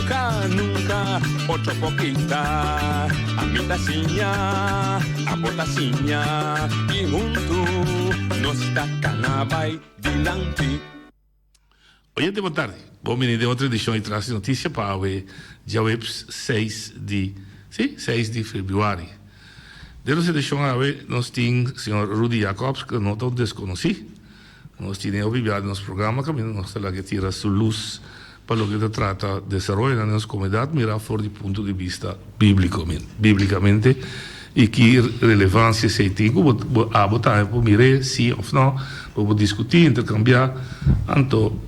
Nunka, nunka otro por pinta Ami ta siña, abo ta siña Y huntu nos ta cana bay dilanti. Oyente di Botardi, bon bini den otro edicion di Tras di Noticia pa awe djaweps seis di, sí, seis di Februari. Den nos edicion awe nos tin Señor Rudy Jacobs, cu no ta un desconoci. Nos tin e hopi bia den nos programa kaminda nos ta lag'e tira su lus pa loke ta trata desaroyonan den nos komunidat mirá for di punto di bista bíbliko, bíblikamente, i ki relevansia esei tin ku bo bo abo tambe por mir'e sí òf nò, bo por diskutí, interkambiá. Anto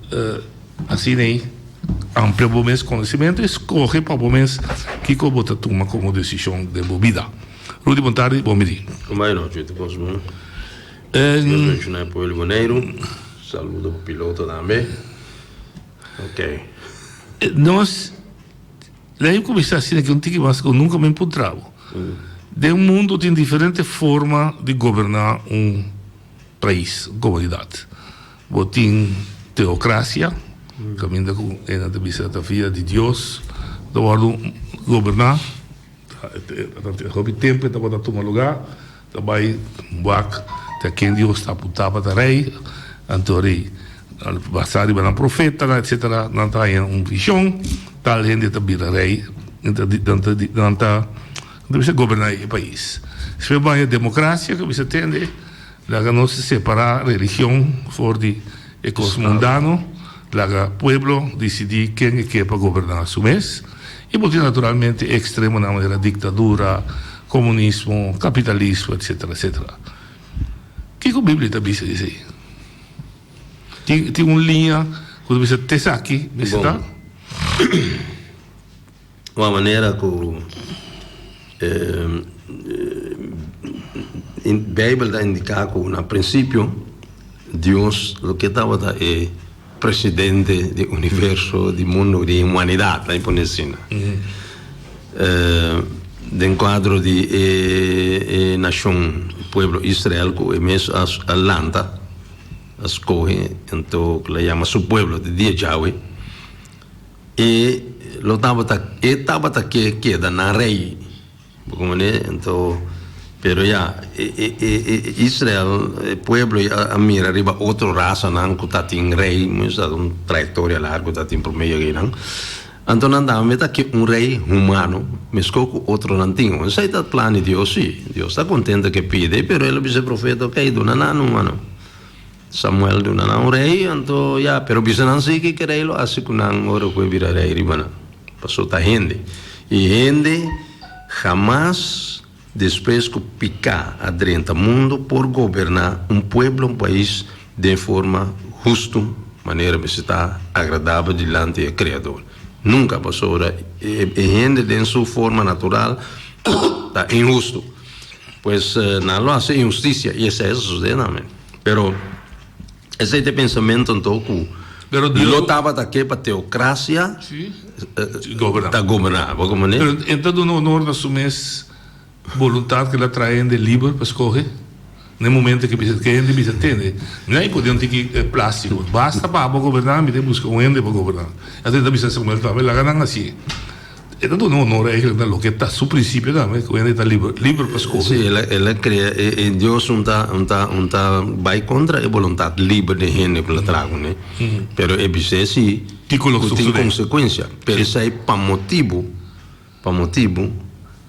asin'ei amplia bo mes konosementu i skohe pa bo mes kiko bo ta tuma komo desishon den bo bida. Rudy, bon tardi i bon midí. Bon baño nochi, ti kos bon. Dios benshoná e pueblo di Boneiru. Saludo pa piloto tambe. Ok. Nos la yo cuminsa asina cu un tiki mas cu nunca mi empuntrabo. Den mundo tin diferente forma di goberna un pais, un comunidad. Bo tin teocracia, caminda cu Ena ta bisa ta via di Dios, ta wordo goberna, hopi tempo e tabata tuma lugar. Ta bai wak te a ken Dios ta putá pa ta rei. Anto rei, basá riba nan profetanan etcetera, nan ta haña un vishon, tal hende ta bira rei, nan ta nan ta nan ta bisa goberná e pais. Siempre bo haña democracia, ke bisa tende, laga nos separá religion for di E kos mundano laga pueblo disidí ken e ke pa goberná su mes i bo tin naturalmente e ekstremonan manera diktadura, komunismo, kapitalismo etsetera etsetera. Kiko Biblia ta bisa di esei? Tin tin un liña ku ta bisa t'esaki mi sta. ua manera ku Beibel ta indiká ku na prinsipio Dios lo ke tabata e presidente di universo, di mundu, di humanidat, laimi pone asina. Den kuadro di e e nashon, e pueblo Israel ku e mes a a lanta, a skohe, enton ku la yama su pueblo te dia djawe. E lo tabata e tabata ke keda nan rei. Bo kumane? Anto, pero ya, e e e e Israel, e pueblo ya a mira riba otro rasanan ku tatin rei, mucha sa un trayektoria largu tatin promé yega einan. Anto nan daba meta ke un rei humano meskos ku otronan tin. Bueno, esei ta plan di Dios, si. Dios ta kontento ke pide, pero el a bisa e profeta, oke, duna nan un mano. Samuel duna nan un rei, anto ya, pero bisa nan sigui ke rei lo hasi ku nan ora ku e bira rei riba nan, paso ta hende. I hende hamas despues ku piká a drenta mundu por goberná un pueblo, un pais den forma hustu, manera mester ta agradabel dilanti e Kreador. Nunka, pasobra e hende den su forma natural ta inhustu. Pues nan lo hasi inhustisia i esei a sosodé nan. Pero esei ta e pensamentonan to ku lo tabata ke pa teokrasia ta goberná. Bo komo ne? Pero e ta duna onor na su mes boluntat ku el a traha hende liber pa skohe na e momento ke bisha ke hende bisha tende. Mi a impone un tiki plastiko. Basta pa abo goberná, mi te buska un hende pa goberná. Esei ta bisa Samuel Tabata, laga nan hasi. E ta duna honor eigenlijk na loke ta su principio tambe, ku hende ta liber pa skohe. Si, el a krea e Dios un ta un ta un ta bai kontra e boluntat liber den hende ku lo traha kuné. Pero e bis'é si Diko lo ku tin susedé. konsekuensia. Pero esei pa motibu pa motibu.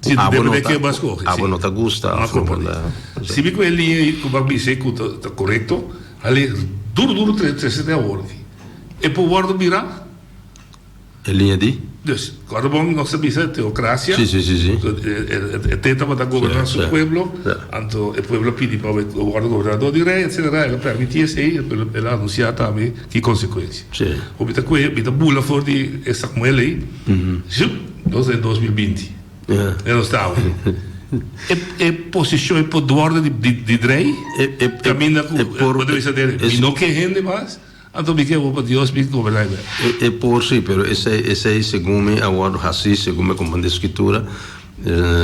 Si ta depende ke bo a skohe, si. Bo a komprende. Sibi ku e liña ku bo a bis'e ku ta korekto, hali duru duru tres trese den awor aki. E por wòrdu bira? E liña di? Dus, kòrda bo nos ta bisa teokrasia, ku e te tabata ta goberná su pueblo, anto e pueblo a pidi pa bo wòrdu gobernadó di rei, etsetera. El a pèrmití esei, el a anunsiá tambe ki konsekuensia. Ku mi ta kue, mi ta bula for di e Samuel ei, Dos e dos mil binti e nos ta awe e posishon e poduordo di drei kaminda ku e mi no ke hende mas anto mi ke hopi dios mi goberna e wet e por si pero esei segun mi a wordo hasi segun mi komprende skitura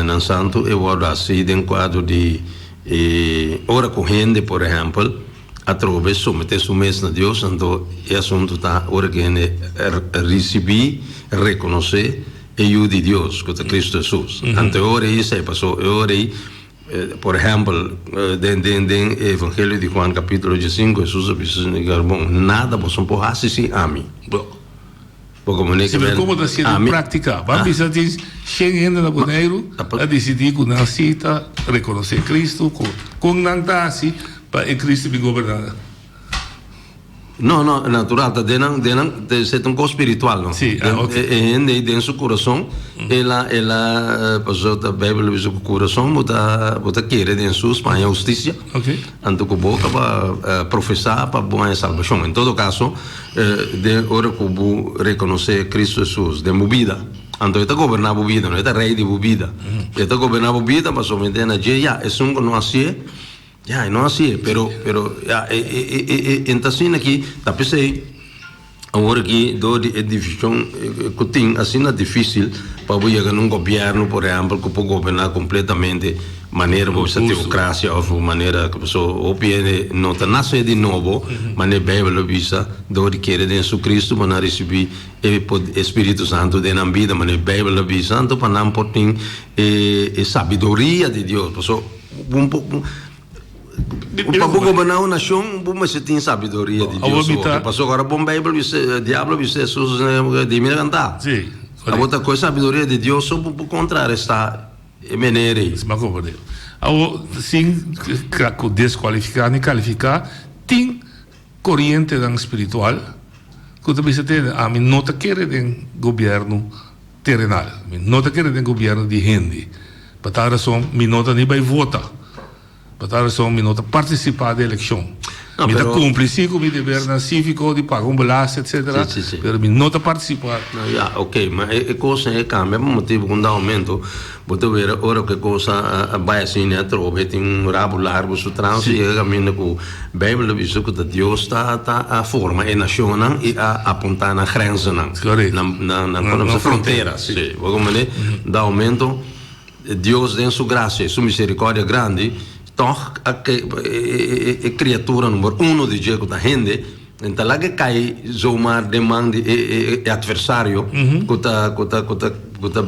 nan santu e wordo hasi den kuadro di ora ku hende por ehempel. atrobe somete su mes na Dios, anto e asuntu ta ora ku hende risibí, rekonosé e Yu di Dios, ku ta Kristu Hesus. Anto e ora ei a sai pasó. E ora ei, por ehèmpel, den den den e Evangelio di Huan kapitulo dje sinku, Hesus a bisa su disipulonan, Nada boso no por hasi sin ami. Si nan komo ta siendo praktika. Ban bisa tin shen hende na Boneiru a disidí ku nan si ta rekonosé Kristu. Kon nan ta hasi pa e Kristu di goberná nan? No, no, natural ta den nan, den nan esei ta un kos spiritual no. Si, ah, ok. E hende ei den su kurason el a el a pasobra ta Beibel a bisa ku kurason bo ta bo ta kere den su Spaña hustisia. Ok. Anto ku bo kaba profesá pa bo haña salbashon, en todo kaso, den ora ku bo rekonosé Kristu Hesus den bo bida, anto e ta goberná bo bida, no? E ta Rei di bo bida. E ta goberná bo bida pasobra na dje, ya, esun ku no hasié, ya, e no hasié, pero, pero, ya, e ta asina aki, ta p'esei. Awor ki dor di e division ku tin asina difisil pa bo yega na un gobièrnu por ehèmpel ku por goberná kompletamente manera bo bisa teokrasia òf manera ku paso hopi hende no ta nase di nobo manera e Beibel lo bisa dor di kere den su Kristu bo nan risibí e e spiritu santu den nan bida manera e Beibel lo bisa anto pa nan por tin e e sabiduria di Dios paso bo. Cu pa bo goberna un nacion, bo mester tin sabiduria di Dios. Awor mi ta. Cu paso cu ora bon Bijbel bis'e, Diablo bis'e, su, su, su, di mira canta. Sí, correcto. Awor ta coge sabiduria di Dios, so bo por contrarresta e mene rey. Sma coberdero. Awor, sin cla cu descualifica ni califica, tin corientenan spiritual cu ta bisa tene, ami no ta kere den gobierno. Terenal. Mi no ta kere den gobierno di hende. Pa tal rason mi no ta ni bay vota. Pa tal rason mi no ta participa den eleccion. Mi ta cumpli si cu mi debernan civico di paga un belasting etcetera, pero mi no ta participa. No, ya, ok. Ma e cosnan e cambia pa motibo cu un dado momento. Bo ta wera ora ku e kos a a bai asin e a trobe, e tin un rabu largu, su trao ta yega kaminda ku Beibel a bisa ku ta Dios ta ta a forma e nashonnan i a apunta na grensenan, na na na kon ta bisa frontera. Si, bo kon mane daumentu Dios den su grasia i su miserikòrdia grandi tòg a e e e kriatura number uno di dje ku ta hende, Nan ta laga cay zomaar den man di e e adversario cu ta cu ta cu ta cu ta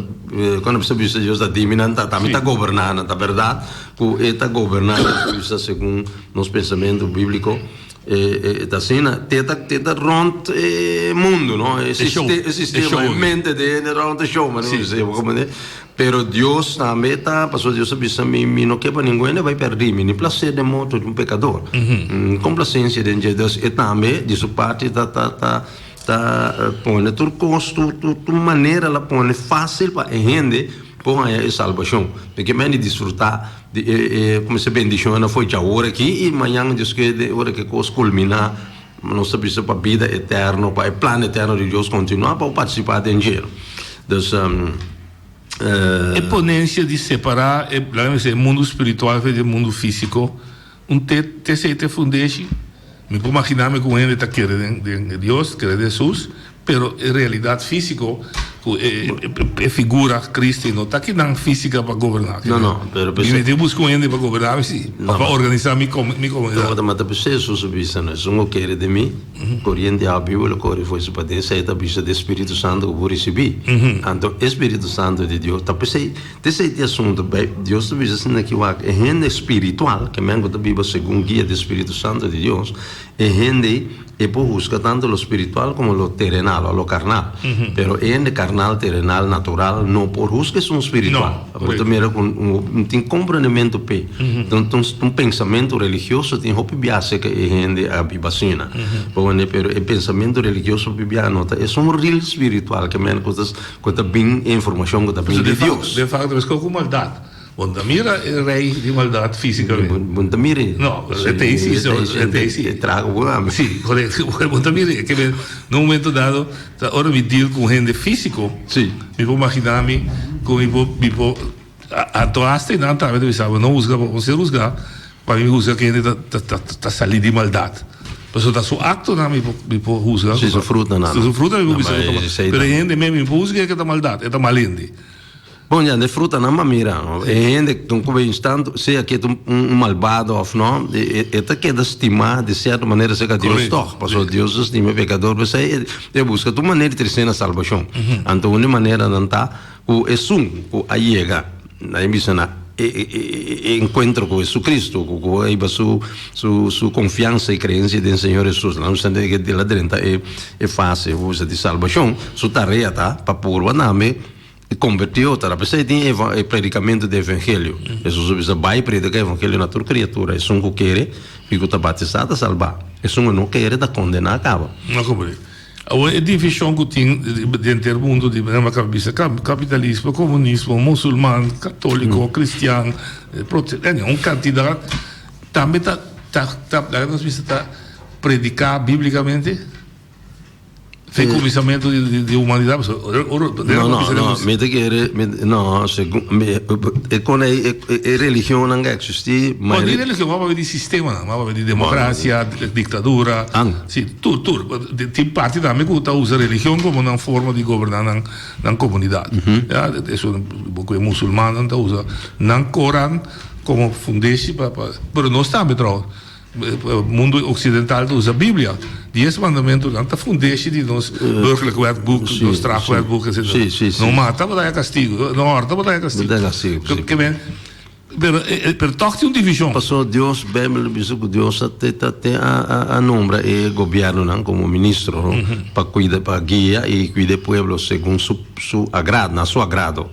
cuando bisa bisa Dios ta dimi nan ta tami ta goberna nan ta verdad cu e ta goberna nan ta bisa segun nos pensamento biblico e e ta asina te e ta te e ta rond e mundo no e sistema e mente di hende rond e show manera mi bisa yo bo comprende Pero Dios tambe ta, pasobra Dios a bisa mi, mi no ke pa ninguende bai perdí mi, ni plasé den mou ta di un pekador. N komplasensia den dje, dus e tambe di su parti ta ta ta ta pone tur kos, tur tur tur manera el a pone fásil pa e hende por haña e salbashon. Mi ke mei di disfrutá di e e, kome se bendishonnan afó djawoor aki i mañana Dios kere ora ke kos kulminá. Nos ta bisa pa bida eterno, pa e plan eterno di Dios kontinuá, pa bo partisipá den dje. Dus. E ponencia di separá e, laga mi bisa, e mundu spiritual fei di e mundu físico, un te, te sei te fundeshi? Mi por maginá mi ku un hende ta kere den, den Dios, kere den Hesus. Pero e realidad físico cu e figura cristi no ta ki nan física pa goberna. No, no, pero p'esei. Mi mete busca un hende pa goberna mi si, pa organisa mi comunidad. No, mata p'esei Jesús a bisa nos, si no kere di mi, coriente awa biba lo cori fuerza paden, esei ta bisa di e Spiritu Santo cu bo ricibi. Anto, e Spiritu Santo di Dios ta p'esei, ta esei ta e asunto, bai, Dios ta bisa asina aki wak, e hende spiritual, kimen cu ta biba segun guia di e Spiritu Santo di Dios, E hende e por husga tanto lo spiritual como lo terenal o lo karnal. Pero e hende karnal, terenal, natural no por husga esun spiritual. No, Bo ta correcto. mira ku no tin komprendementu p'e. Tan tan es un pensamentu religioso tin hopi biaha aserka e hende a biba asina. Bo mira, pero e pensamentu religioso hopi biaha no ta esun ril spiritual, ke men ku ta ku ta bin e informashon ku ta bin Entonces, di de facto, Dios. de facto, es koku maldad. Bon ta mira e rei di maldad fisicamente. Bon ta mira. No, e ta ahí sí, e ta ahí sí. E traha con un hambra. Sí, correcto. Bon ta mira. Ke men, na un momento dado, ta ora mi deal con hende físico. Sí. Mi por magina mi cu mi por, mi por, anto hasta nan ta mi sa, no husga, bo ser husga, pa mi husga ke hende ta, ta, ta sali di maldad. Pasobra ta su actonan mi por, mi por husga. Sí, su frutonan. Su frutonan mi por bisa. Pero e hende men mi por husga ke ta maldad, e ta mal hende. Bon ya, den frutanan m'a mira, e hende tun ku bini tantu, sea ke ta un un malbado òf nò, e e e ta keda stimá di sierto manera serka Dios Correcto, tòg, pasobra sí. Dios ta stima e pekador, p'esei e e buska tur manera di trese na salbashon. Anto un di e maneranan ta ku esun ku a yega, a bin bisa na e e e e e enkuentro ku Hesukristu, ku ku ei ba su su su konfiansa i kreensia den Señor Hesus, nan bisa di ke el a drenta e e fase, ku bisa di salbashon, su tarea ta pa purba tambe, E kombertió ta dap'esei e tin e predikamentu di evengelio. Hesus a bisa, Bai predika e evangelio na tur kriatura. Esun ku kere i ku ta batisá ta salbá. Esun ku no kere ta kondená kaba. No kob'e. Awor e divishon ku tin den henter mundu di nan a kaba bisa kapitalismo, komunismo, musulman, katóliko, kristian, protesta, eni un kantidat tambe ta ta laga nos bisa ta prediká biblikamente? Te comisamento de, de humanidad. No, no, no. Mi te quiere. No, e con e religión no existe. Maar die religión maar die sistema, maar die democracia, dictadura. Sí, tur, tur. Die party daarmee goed dat usa religión como een vorm die governan een comunidad. Ja, dat is een boek weer musulmanen dat usa een Koran como fundatie, maar no staan betrokken. Mundo occidental ta usa Biblia. Dies mandamentonan ta fundeshi di nos burgerlijk wetboek, nos strafwetboek, etc. No mata pa daña castigo, no horta pa daña castigo. Pero toch tin un division. Pasobra Dios, Bijbel ta bisa cu Dios a nombra e gobiernonan como ministro pa guia y cuida e pueblo segun su agrado, na su agrado.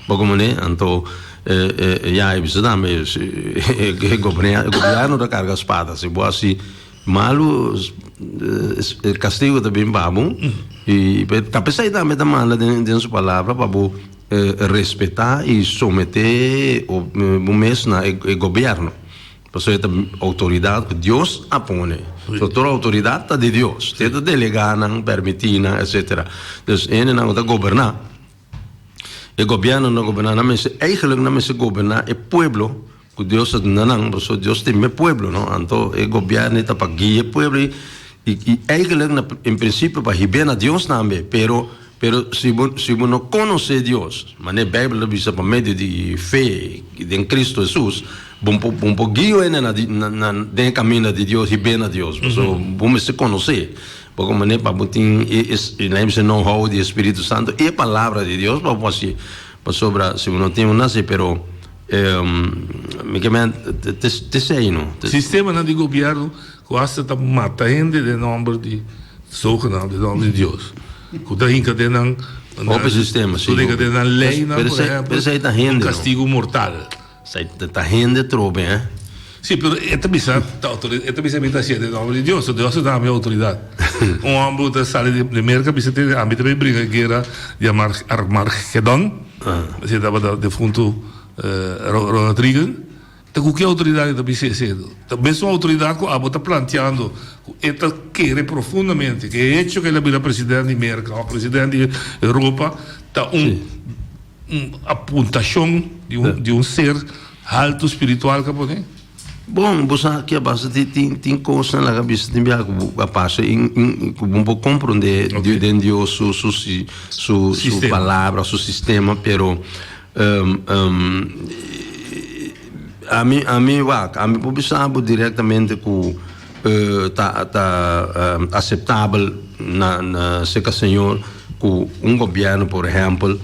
Bo komo ne? Anto e e ya e bisa tambe e gobièrnu ta karga spada si bo hasi malu e kastigu ta bin pa bo i ta p'esei tambe e ta manda den su palabra pa bo respetá i someté bo mes na e gobièrnu pasobra e ta outoridat ku Dios a pone so tur outoridat ta di Dios e ta delegá nan pèrmití nan etcetera dus hende nan ku ta goberná. E gobierno na goberna nan mester, eigenlijk nan mester goberna e pueblo cu Dios a duna nan, pasobra Dios tin e pueblo no, anto e gobierno ta pa guia e pueblo y eigenlijk na en principio pa hib'e na Dios tambe, pero pero si bo si bo no conoce Dios manera e Bijbel ta bisa pa medio di fe den Cristo Jesus bo bo bo por guio hende na di na na den e caminda di Dios hib'e na Dios pasobra bo mester conoce. Bo con mane pa bo tin e esna ese know how di Espiritu Santo? E Palabra di Dios pa bo haci. Pasobra si bo no tin bo na haci pero mi ke men te sei no. Sistemanan di gobierno cu hasta ta mata hende den nomber di zogenaamd den nomber di Dios. Cu ta hinca den nan. Hopi sistema si. Cu ta hinca den nan leynan por ehempel un castigo mortal. Esai ta hende trobe eh. Sí, pero e ta bisa, ta autoridad, e ta bisa mi ta haciendo en nombre di Dios, so Dios a da mi autoridad. Un hombre cu ta sali di Merca bisa tin di ambi ta bay bringa guera yama Armagedon, esei tabata defunto Ronald Reagan, ta cu ki autoridad e ta bisa esei? Ta mesun autoridad cu abo ta planteando cu e ta kere profundamente cu e hecho cu el a bira president di Merca of president di Europa ta un. Un apuntashon di un ser haltu spiritual ka por e? Bon, bo sa aki a basa di tin kos nan la ka bisa tin biaha ku bo a pasa i ku bo no por komprondé den Dios su palabra, su sistema, pero ami wak, ami por bisa bo direktamente ku. ta ta aceptabel na na seka señor cu un gobierno por ehempel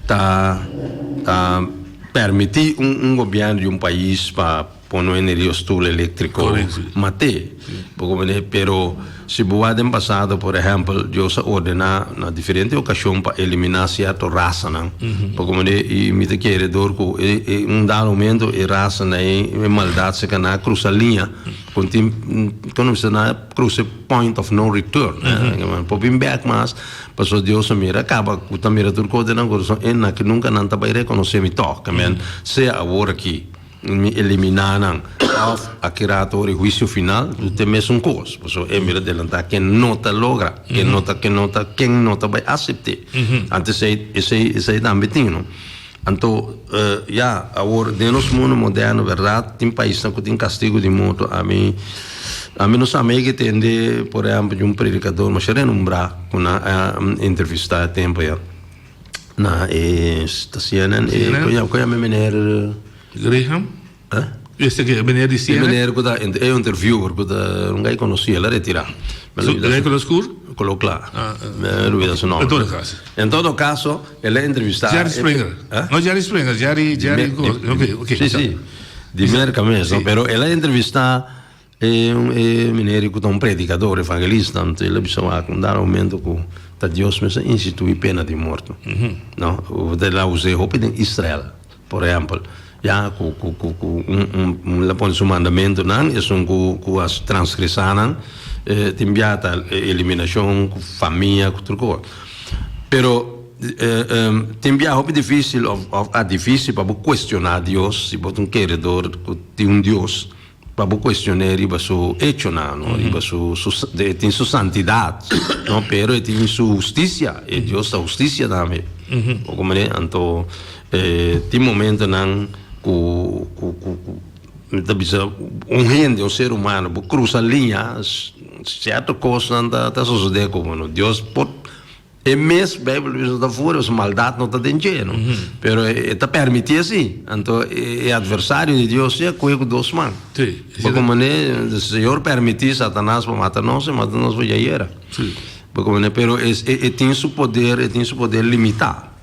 ta ta permiti un un gobierno di un pais pa pono energia stoel electrico mate bo comprende pero si bo wak den pasado por ehempel Dios a ordena na diferente ocasion pa elimina cierto rasanan bo comprende y mi ta kere door cu e e un dado momento e raza na e maldad seka na crusa linea. Con tin, como dice, na cruce point of no return. Mm-hmm. Por bin back mas, paso Dios mira, acaba, ta mira tur code na corazón, en na que nunca nan ta bay reconocer mi toque, men, mm-hmm. sea ahora aquí, mi eliminar nan, of aquí rato de juicio final, tu te mes un cos, paso e mira delanta que no ta logra, que mm-hmm. no ta, que no ta, que no ta bay acepte. Mm-hmm. Antes sei, sei, sei también tino. Anto, ya, awor den nos mundu moderno, berdad, tin paisnan cu tin castigo di muerto. Ami, ami no sa mei ke tende, por ehempel, di un predicador masha renombrá cu nan a entrevistá e tempo ya na e, ta cnn e, con yam'e meneer? Graham. Este ke meneer di CNN? E meneer ku ta e interviewer ku ta un gai konosí, el a retirá. Gai konosí kur? Kolo kla. Me olbida su nòmber. En todo kaso. En todo kaso, el a entrevistá. Jerry Springer. No Jerry Springer, Jerry, Jerry. Si, si. Di Merka mes, no? Pero el a entrevistá. E mineri ku ta un predikadó, un evangelista, anto el a bisa wak, un dado momento ku ta Dios mes a institui pena di morto. No, ta el a us'é hopi den Israel, por ehèmpel, ya ku ku ku ku un el a pone su mandamentunan, esun ku ku a transgresá nan, e tin bia ta eliminashon ku famia ku tur kos. Pero, tin bia hopi difísil òf òf a difísil pa bo kuestioná Dios, si bo ta un keredor ku tin un Dios. Pa bo cuestion'é riba su hechonan, no? Riba su, su, e tin su santidad, no? Pero e tin su husticia, e Dios ta husticia tambe. Bo comprende? Anto, eh, tin momentonan cu, cu, cu, cu mi ta bisa un hende, un ser humano, bo cruza liña, s-cierto cosnan ta, ta sosode cu bo, no? Dios por. E mes Bijbel mismo ta fuera, pues maldad no ta den dje, no? Pero e ta permiti asi. Anto e adversario di Dios dje a coge cu dos man. Sí, e Bo sido. con mane el Señor permiti Satanás pa mata nos, e mata nos bo ya yera. Sí. Bo con mane, pero es e e tin su poder, e tin su poder limita.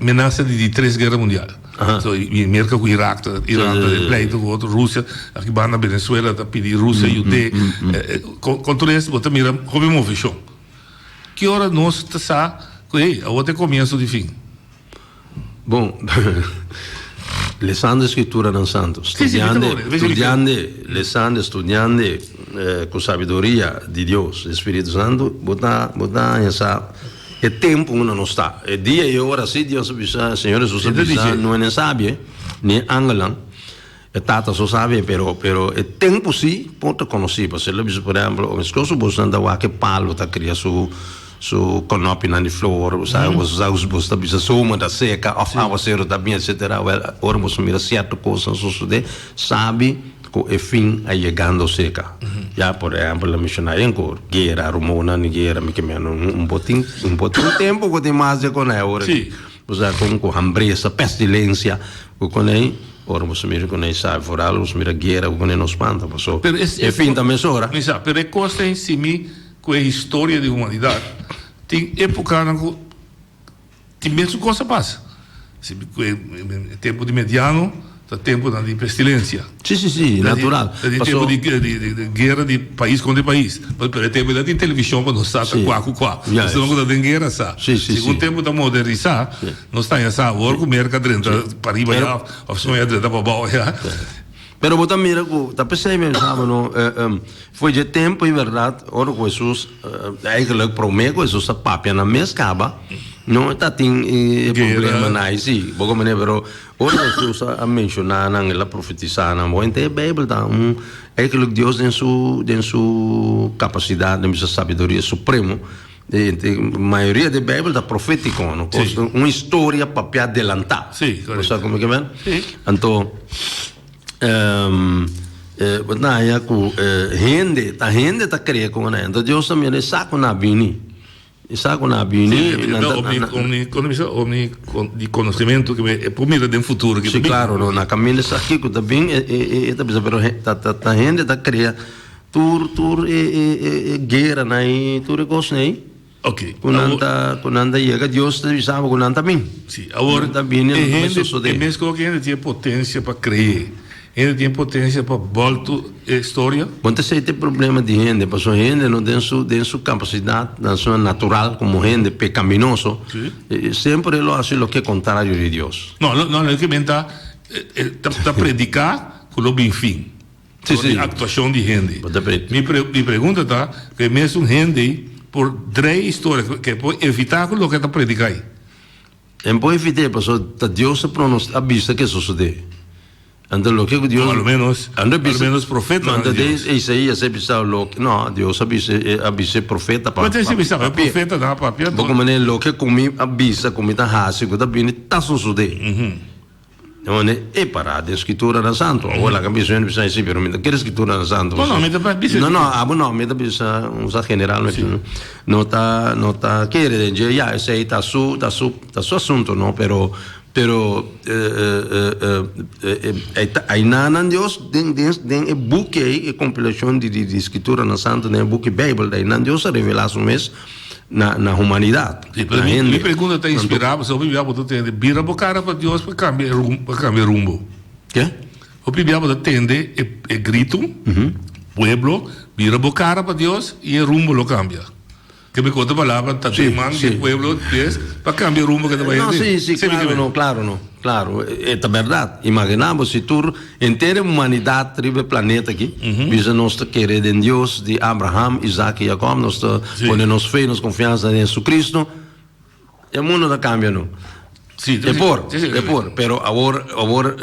Menaza di tres guerra mundial. Merca cu Irak ta den pleito cu otro. Rusia, aki banda Venezuela ta pidi Rusia yute. Con tur es bo ta mira hopi moveshon. Ki ora nos ta sa cu ey, awo ta e comienzo di fin? Bon, lesando e scripturanan santo, studiande, lesando e studiande cu sabiduria di Dios, di e spiritu santo, bo ta haña sa. E tempu unda nos ta. E dia i e ora si, Dios a bisa, Señor Hesus a bisa, no e nen sabie, ni e angelnan, e Tata so sabie, pero, pero e tempu si por ta conoci. Pasobra el a bisa, por ehemplo, un esclosio bo esnan ta wak e pallo ta cria su, su conopienan di flor, bo sabe, bo sa, bo ta bisa zoma ta seca of aguacero ta bin, etcetera. Wel, ora boso mira cierto cosnan sucede, sabi, Cu e fin a yegando cerca. Ya, por ehempel, lo menciona ayen cu guera, rumonan di guera, mi ke meno. Un botin, un botin tempo cu tin mas di e conei ora aki. Sí. Bo sa con cu hambresa, pestilencia, cu conei, ora boso mira conei sabi foral, boso mira guera, cu conei no spanta boso. Pero es, es. E fin ta mesora. Mi sa, pero e cos ta en si mi cu e historia di humanidad. Tin epocanan cu. Tin mesun kos a pasa. Si mi kue e tempu di mediano ta tempunan di pestilencia. Si, si, si, natural. Ta di tempu di guera di pais kontra pais. Pasobra per e tempu ei no tin televishon pa nos sa ta kua ku kua. Nos ta loke ku ta den guera sa. Si un tempu ta modernisá, nos ta haña sa awor ku Merka drenta pariba ya òf Spanha drenta pa abou ya. Pero bo ta mira ku ta p'esei mesa bo no foi dje tempu i bèrdat ora ku Hesus, eigelik promé ku Hesus a papia na mes kaba, no ta tin e problemanai si, bo komprendenan? Pero ora ku Hesus a menshoná nan, el a profetisá nan, bo henter e Beibel ta un eigelik Dios den su kapasidat, den bisa sabiduria supremo. E mayoria di e Bijbel ta profetico, no? Si. Cos, un historia papia adelanta. Si, correcto. Bo sa como que men? Si. Anto, ehm, eh, bo ta haya cu, eh, hende, ta hende ta cree con nan. Anto Dios ta mira e sa cu nan a bini. E sa cu nan a bini, Si, e nan ta- omni, nan- omni, como dice, omni, con- di conocimiento que me, e por mira den futuro que ta Si, bin. claro, no, nan caminda sa kico ta bin, e, e, e ta bisa, pero he, ta, ta, ta hende ta crea. Tur tur e e e e gueranan i tur e cosnan ei Ok, cu nan awor, ta cu nan ta yega Dios ta bisa abo cu nan ta bin. sí, awor, Nan ta bin e e lo ta hende, sosode. e mes cosa que hende tiene potencia pa cree, hende tiene potencia pa bolto e historia, Bon ta sei te problema di hende paso hende no den su den su capacidad nan su natural como hende pecaminoso Sí. eh, siempre lo hace lo que es contrario di Dios. no, no, no, lo que menta, eh, eh, ta, ta predica, cu lo bin fin. dor di actuacion di hende. Mi pregunta ta, cu e mesun hende por drae e historia, cu e por evita cu loke ta predica ahi? E por evite pasobra ta Dios ta pronostica, a bisa cu e sosode. Anto loke cu Dios. Alomenos profetanan di Dios. Manda Isaia si a bisaba loke, no, Dios a bisa, a bisa e profeta pa. Mester si bisaba e profetanan a papia. Bo cu mane loke cu mi a bisa cu mi ta haci cu ta bini ta sosode. Dónde e pará den Skrituranan Santu? Awor laga mi bisa, mi no bisa esei, pero mi ta kere Skrituranan Santu. No, no, mi ta bisa. No, no, abo no, mi ta bisa un sa general mesén. Si. No ta, no ta kere den dje, ya, esei ta su, ta su, ta su asuntu, no, pero, pero ainanan Dios den, den, den e buki ei, e kompilashon di, di, di Skrituranan Santu, den e buki Beibel, ainan Dios a revelá Su mes. na, na humanidad. Sí, pero mi, mi pregunta ta inspirada, pues hopi bia bodo tende, bira bo cara pa Dios pa cambia e rumbo, pa cambia rumbo. ¿Qué? Hopi bia bodo tende e, e grito, mm -hmm. pueblo, bira bo cara pa Dios y e rumbo lo cambia. Que me conta palabra, ta sí, man, sí. pueblo, yes, pa cambia rumbo que te vaya. No, sí, sí, claro, no, claro, no, claro, es verdad. Imaginamos si tur Henter e humanidad riba e planeta aki, bisa nos ta kere den Dios di Abraham, Isaac y Jacob, nos ta pone nos fe, nos confiansa den Jesucristo, e mundo ta cambia no. E por, e por, pero awor, awor,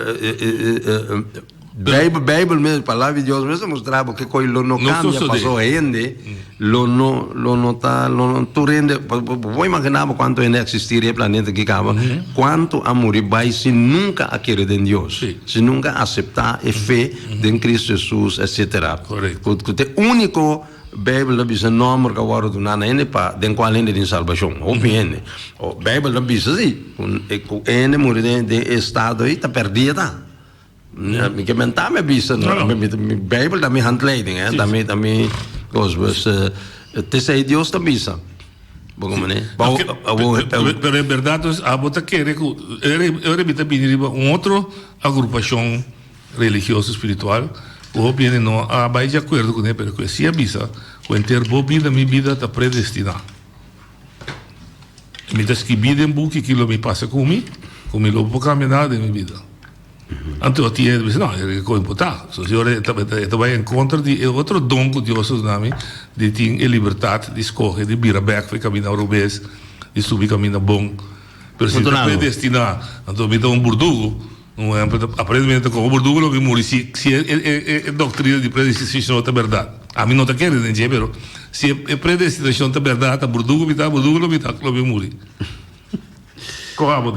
Bijbel, Bijbel mes, Palabra di Dios mes ta mustra bo kico lo no cambia, paso hende. Lo no, lo no ta, lo no, tur hende, bo, bo, bo por imagina bo cuanto hende a existi riba e planeta aki caba, cuanto a muri bay sin nunca a kere den Dios, Sí. sin nunca a acepta e fe den Cristo Jesus, etcetera. Correcto. Cu, cu ta e unico Bijbel ta bisa nomber cu a worde duna na hende pa den cual hende tin salbacion. Hopi hende, o, Bijbel ta bisa si, cu, cu e hende muri den, den e estado ey ta perdia ta. Mi ke mentá mi a bisa mi Bijbel ta mi handleiding, ta mi ta mi kos. Pues tese Dios ta bisa. Bo como ne? Pero en verdad pues abo ta kere ku ora mi ta bini riba un otro agrupashon religioso spiritual ku hopi hende no a bai di akuerdo ku ne pero ku e si a bisa ku henter bo bida mi bida ta predestiná. Mi ta skibí den buki kilo mi pasa ku mi, ku mi lo por kambia nada den mi bida. Anto a tia e ta bisa, no, e kos impotá. So siñor, e ta bai en kontra di e otro don ku Dios nos na mi, di tin e libertat di skohe, di bira bèk for e kaminda otro bes, di subi kaminda bon. Pero si mi ta predestiná, anto mi ta un burdugu. Un ehèmpel, aparentemente ta komo un burdugu lo mi muri si si e doktrina di predestinashon ta bèrdat. Ami no ta kere den dje, pero si e predestinashon ta bèrdat, ta burdugu mi ta, burdugu lo mi ta, lo mi muri.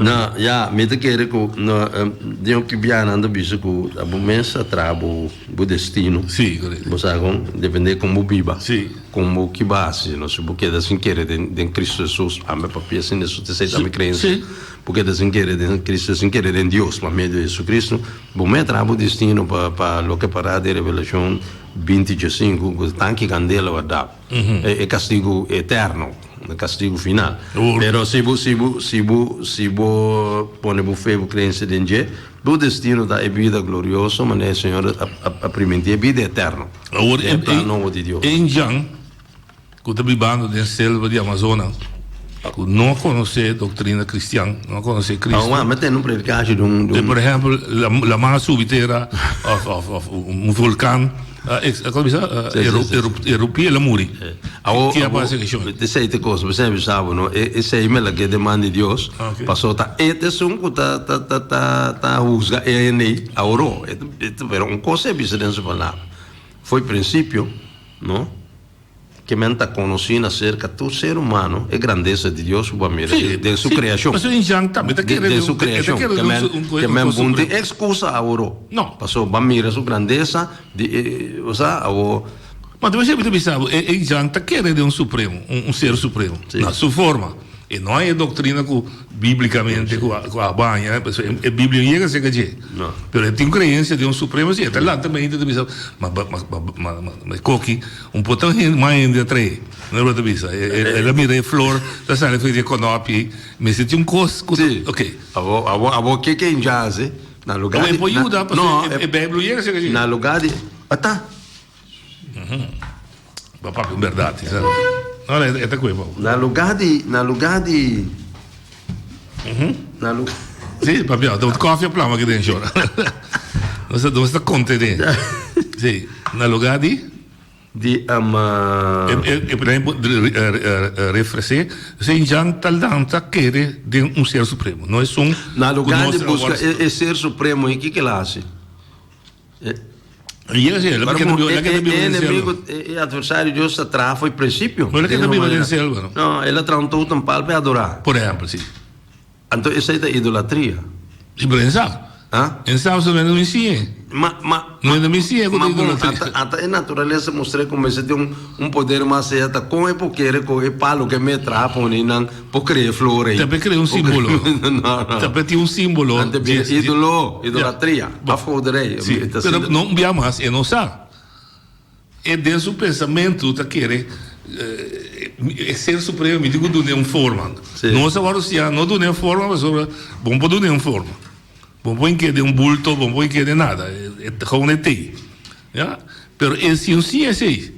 No, ya, mi ta kere ku no, em, den hopi bianan ta bisa ku ta bo mes a traha bo, bo destino. Sí, correcto. Bo sa kon, depende kon bo biba. Sí. Kon bo ki base, no, si bo keda sin kere den, den Kristu Hesus, pampe papia sin eso ta seita mi kreensia. Sí, sí. Bo keda sin kere den Kristu, sin kere den Dios pa medio di Hesukristu, bo mes a traha bo destino pa, pa loke pará den Revelashon binti dje sinku, ku ta tanki kandela, wardá. e castigo eterno, e castigo final. Duro. Pero si bo, si bo, si bo, si bo pone bo fe, bo creencia den dje, bo destino ta e bida glorioso, manera e Señor a, a, a, a primintí, e bida eterno. Awor, Den e plan nobo di Dios. ein Jan cu ta bibando den selva di Amazona, cu no a conoce e doctrina cristian, no a conoce Aun Cristo, a, me tene un predicashi di un, di e, un. por ehempel, la, la man a subi tera of, of, of un volcan. E ta bisa e rupi el a muri. Ki a pasa ki shon? Di sei te kos, mi sai bisa bo no, e sei mi a lag'é den man di Dios, paso ta e ta esun ku ta ta ta ta ta husga e hende ei awo. Pero un kos ei bisa den su palabra, fo'i prinsipio no. Ke men ta konosí na serka tur ser humano e grandesa di Dios ku bo a mira den Su kreashon. Den Su kreashon. Ke men bon tin ekskusa awor. Pasobra bo a mira Su grandesa di e kosa awor. Ma ta mester bisa bo, e Jan ta kere den un supremo, un ser supremo. Na Su forma. E no hay e doktrina ku. Biblicamente cu a baña, e Biblia no yega acerca dje. Pero e tin un creencia den un supremo si e ta lanta mente ta bisa ma ma coki un poco mas hende a trae no lo ta bisa e la mira e flor ta sali aferi e conopi mester tin un cos cu ta ok. Abo ke ke nja hace na lugar di. Abo e por yuda pasobra e Biblia no yega acerca dje. Na lugar di ata. Na lugá di, na lugá di, na lugá. Sí, papia, ta un kòfia plama aki den shor. Nos ta nos ta konte den. Sí, na lugá di. Di ama. E pren refresé, se jan ta lanta kere den un Ser Supremo. No esun. Na lugá di buska e Ser Supremo, e kiko el hasi? E adversario Dios ta traha fo'i principio. No, el a traha un totem pal pa e adora. Anto esei ta idolatria. Ma, ma, ma bon, ata e naturalesa mostr'e ku mester tin un poder mas sea ta kon e por kere ku e palu ku e mes traha pone nan. Por crea e flor ey. Ta pe crea un simbolo. Ta pe tin un simbolo. Ante bira e idolo, idolatria. Afo de rey. Si, pero no un bia mas e no sa. E den su pensamento ta kere e ser supremo mi tin cu dun'e un forma. No sa wou siña, no dun'e un forma pasobra bo no por dun'e un forma. Bo no por hinke den un bulto, bo no por hinke den nada. E ta gou na e tey. Pero e si un siña esey.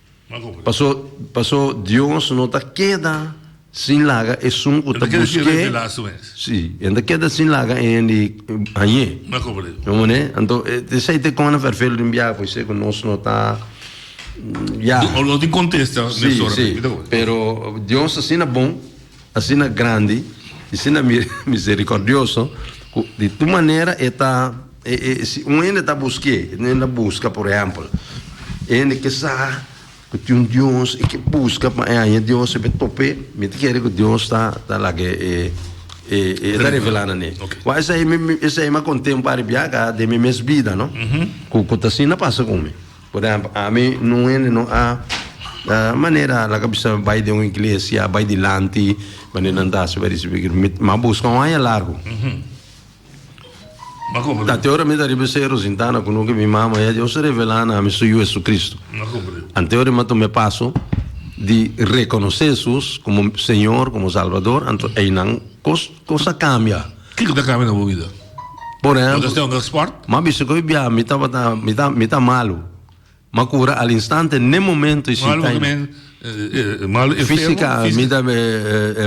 Paso Dios no ta keda sin laga esun ku ta busk'E, si, E ta keda sin laga eyen di hañ'é. Bo man'é? Anto, esei ta e kònde fèrfel den biaha por isei ku nos no ta, ya. Si, si, pero Dios asina bon. Asina grandi i asina miserikòrdioso ku di tur manera e ta si un hende ta busk'é, e ta hende a buska por ehèmpel e hende ke sa ku tin un Dios i ke buska pa e haña Dios e por e top'é mi ta kere ku Dios ta ta laga e e ta revelá nan e wak esei esei mi a konten un par di biaha ka den mi mes bida no ku ku ta asina pasa ku mi. Por ehempel, ami nun hende nun a manera a laga bisa bai den un iglesia, a bai dilanti manera nan ta hasi bai risibi Cristo. Mi mi a buska un aña largu. Ma Ta comprende, te ora mi ta riba e Cerro Sintana ku nunke mi mama ya Dios a revelá na mi su Yu Jesucristo. ma comprende. Ante ora mi a tuma e paso di rekonosé Jesus komo Señor, komo Salbador, anto einan kos Kos a kambia. Kiko ta kambia na bo bida? Por ehemplo. Lo ta stay unda sport? M'a bisa ku e bia mi tabata mi ta mi ta malu. M'a kura al instante n'e momento i sinta i. Malu enfermo? Fisika mi ta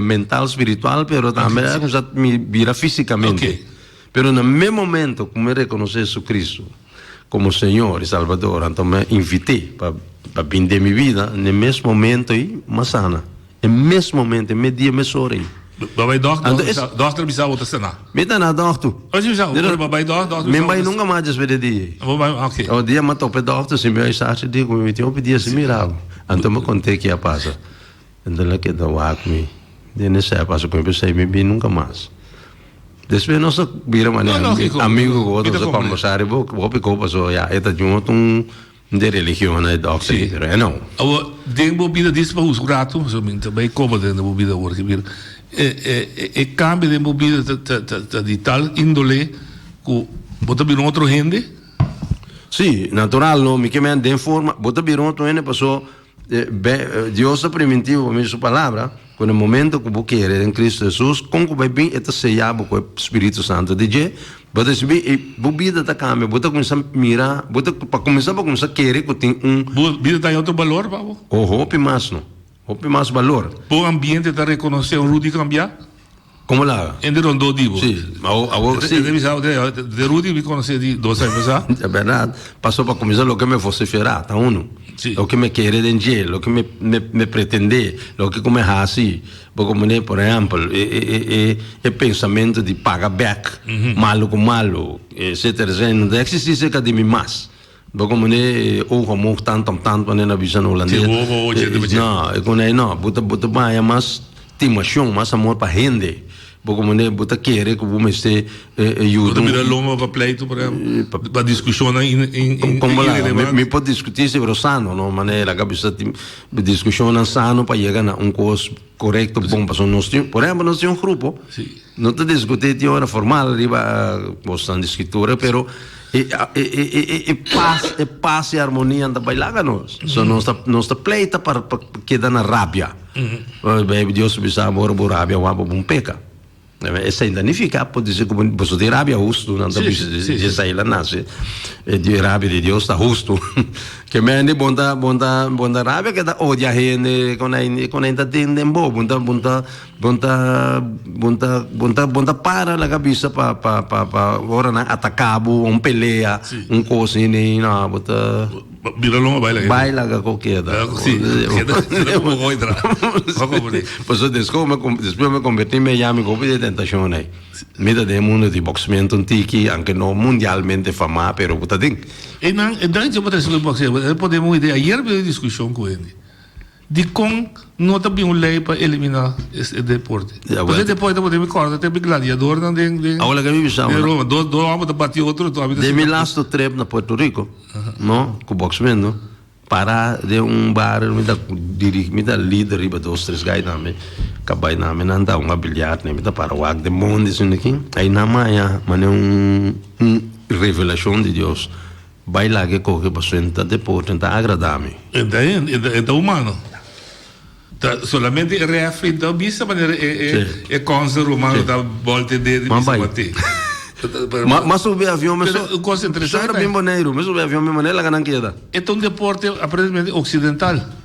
mental spiritual pero tambe mi bira fisikamente. Pero na mes momento ku mi rekonosé JesuCristu komo Señor i Salbador, anto mi a invit'é pa bin den mi bida, n'e mes momento ei mi a sana. E mes momento, e mes dia mes ora ei. Bo bai dòkter, dòkter bisa, dòkter bisa bo ta saná? Mi ta na dòkter. Oh, si bisa, oké, bo bai dòkter, dòkter bisa. Mi no bai nunka mas despues di e dia ei. Bo bai, oké. Oh, dia mi a top'e dòkter, si mi bai sarchi di ku mi tin hopi dia simirabo. Anto mi kont'é ke a pasa. Nan ta la keda wak mi den e sèp aso ku mi a pensá i mi bin nunka mas. Despues nos a bira manera amigu ku bo, nos a kòmbersá riba bo hopi kou pasó ya e ta junga tun de religion na e dòkter i pero e no. Awa den bo bida disa pa huska un ratu pasobra mi ta bai kòmodo den bo bida awor aki pero e kambio den bo bida ta di tal índole ku bo ta bira un otro hende? Si, natural no, mi ke mèn den forma bo ta bira un otro hende pasó. Dios ta primintivo pa medio di su Palabra, cu na momento cu bo kere den Cristo Jesus, con cu bay bin e ta sella bo cu e Spiritu Santo di Dje, bo ta ricibi y bo bida ta cambia, bo ta cuminsa mira, bo ta, pa cuminsa bo cuminsa kere cu tin un. Bo bida ta haña otro balor pa bo. O hopi mas no, hopi mas balor. Bo ambiente ta reconoce Rudy cambia? Como laga? En di rondó di bo. Sí. Ma awor, awor sí. Te bisa, te, te Rudy mi conoce di dos años sa. Es verdad. Paso pa comenzar lo que me vocifera, ta uno. Sí. Lo que me quiere den je, lo que me, me, me pretende, lo que come haci. Porque mene, por ejemplo, e, e, e, e, e pensamiento di paga back, malo con malo, etcétera, etcétera. No te existir cerca di mi mas. Bo komo ne e oog omhoog tant tam tant wan den a bisa na holandes. Te wobo oce te bece. No, e con ei no, bo ta bo ta baña mas timacion, mas amor pa hende. Bo komo ne bo ta kere ku bo mester eh eh Bo yuda ta un bira lomba pa pleito por ehempel, pa discushonnan in in in Kon bo laga? Mi irelevant. por diskutí si pero sano, no? Manera laga bisa tin diskushonnan sano pa yega na un kos korekto, bon. Pasobra nos tin, por ehempel, nos tin un grupo. Si. No ta discutí tin ora formal riba cosnan di Scritura, pero e, e, e, e, e, e paz, e paz y armonía anda bailá ca nos. So nos ta, nos ta pleita pa, pa queda na rabia. Well, baby, Dios bisa ora bo rabia wan pa bon peca. Amen. E sin danifica, por dice como boso tin rabia justo, nan ta Sí, bisa sí, sí, sí. Jesaja la nace. E di rabia di Dios ta justo. que mende bon ta, bon ta, bon ta rabia que ta odia hende, con hay, con hay ta den den bo, bon ta, bon ta Bon ta bon ta bon ta bon ta para la kabisa pa pa pa pa ora nan ataka bo un pelea Sí. un kos ni ni na bo ta Bira longa baila. bai laga ko keda. Sí, queda, queda como voy tra. Ojo, Budi. Pues so después me con- después me convertí en Miami con de tentación ahí. Me da de mundo de boxeamiento un tiki, aunque no mundialmente fama, pero puta ding. E nan, e dan che botas que boxeo. E podemos idea. Ayer vi discusión con él. Dikon no ta bin un lei pa eliminá e deporte? Pasobra e deporte ta bot'é mi kòrda t'e gladiadornan den Roma. Dos òmber ta bati otro. Den mi lastu trèp na Puerto Rico, no, ku Box Mendo, pará den un bar mi ta dirigi, mi ta lead riba dos tres gai tambe. Kabay nan mi nan ta hunga biljart mi ta para wak den mondi esei. Ayina maña, manera un revelashon di Dios. Bai laga e koke pa su enta de postre enta agrada mi. Enta hende enta enta humano ta solamente e refri enta bo bisa manera e e e konse rumano ta bolte de di bisa bo te ma ma subi avion me so kos interesante me so ta bin boneiru me subi avion mi manera laga nan keda. Enta un deporte aparentemente occidental.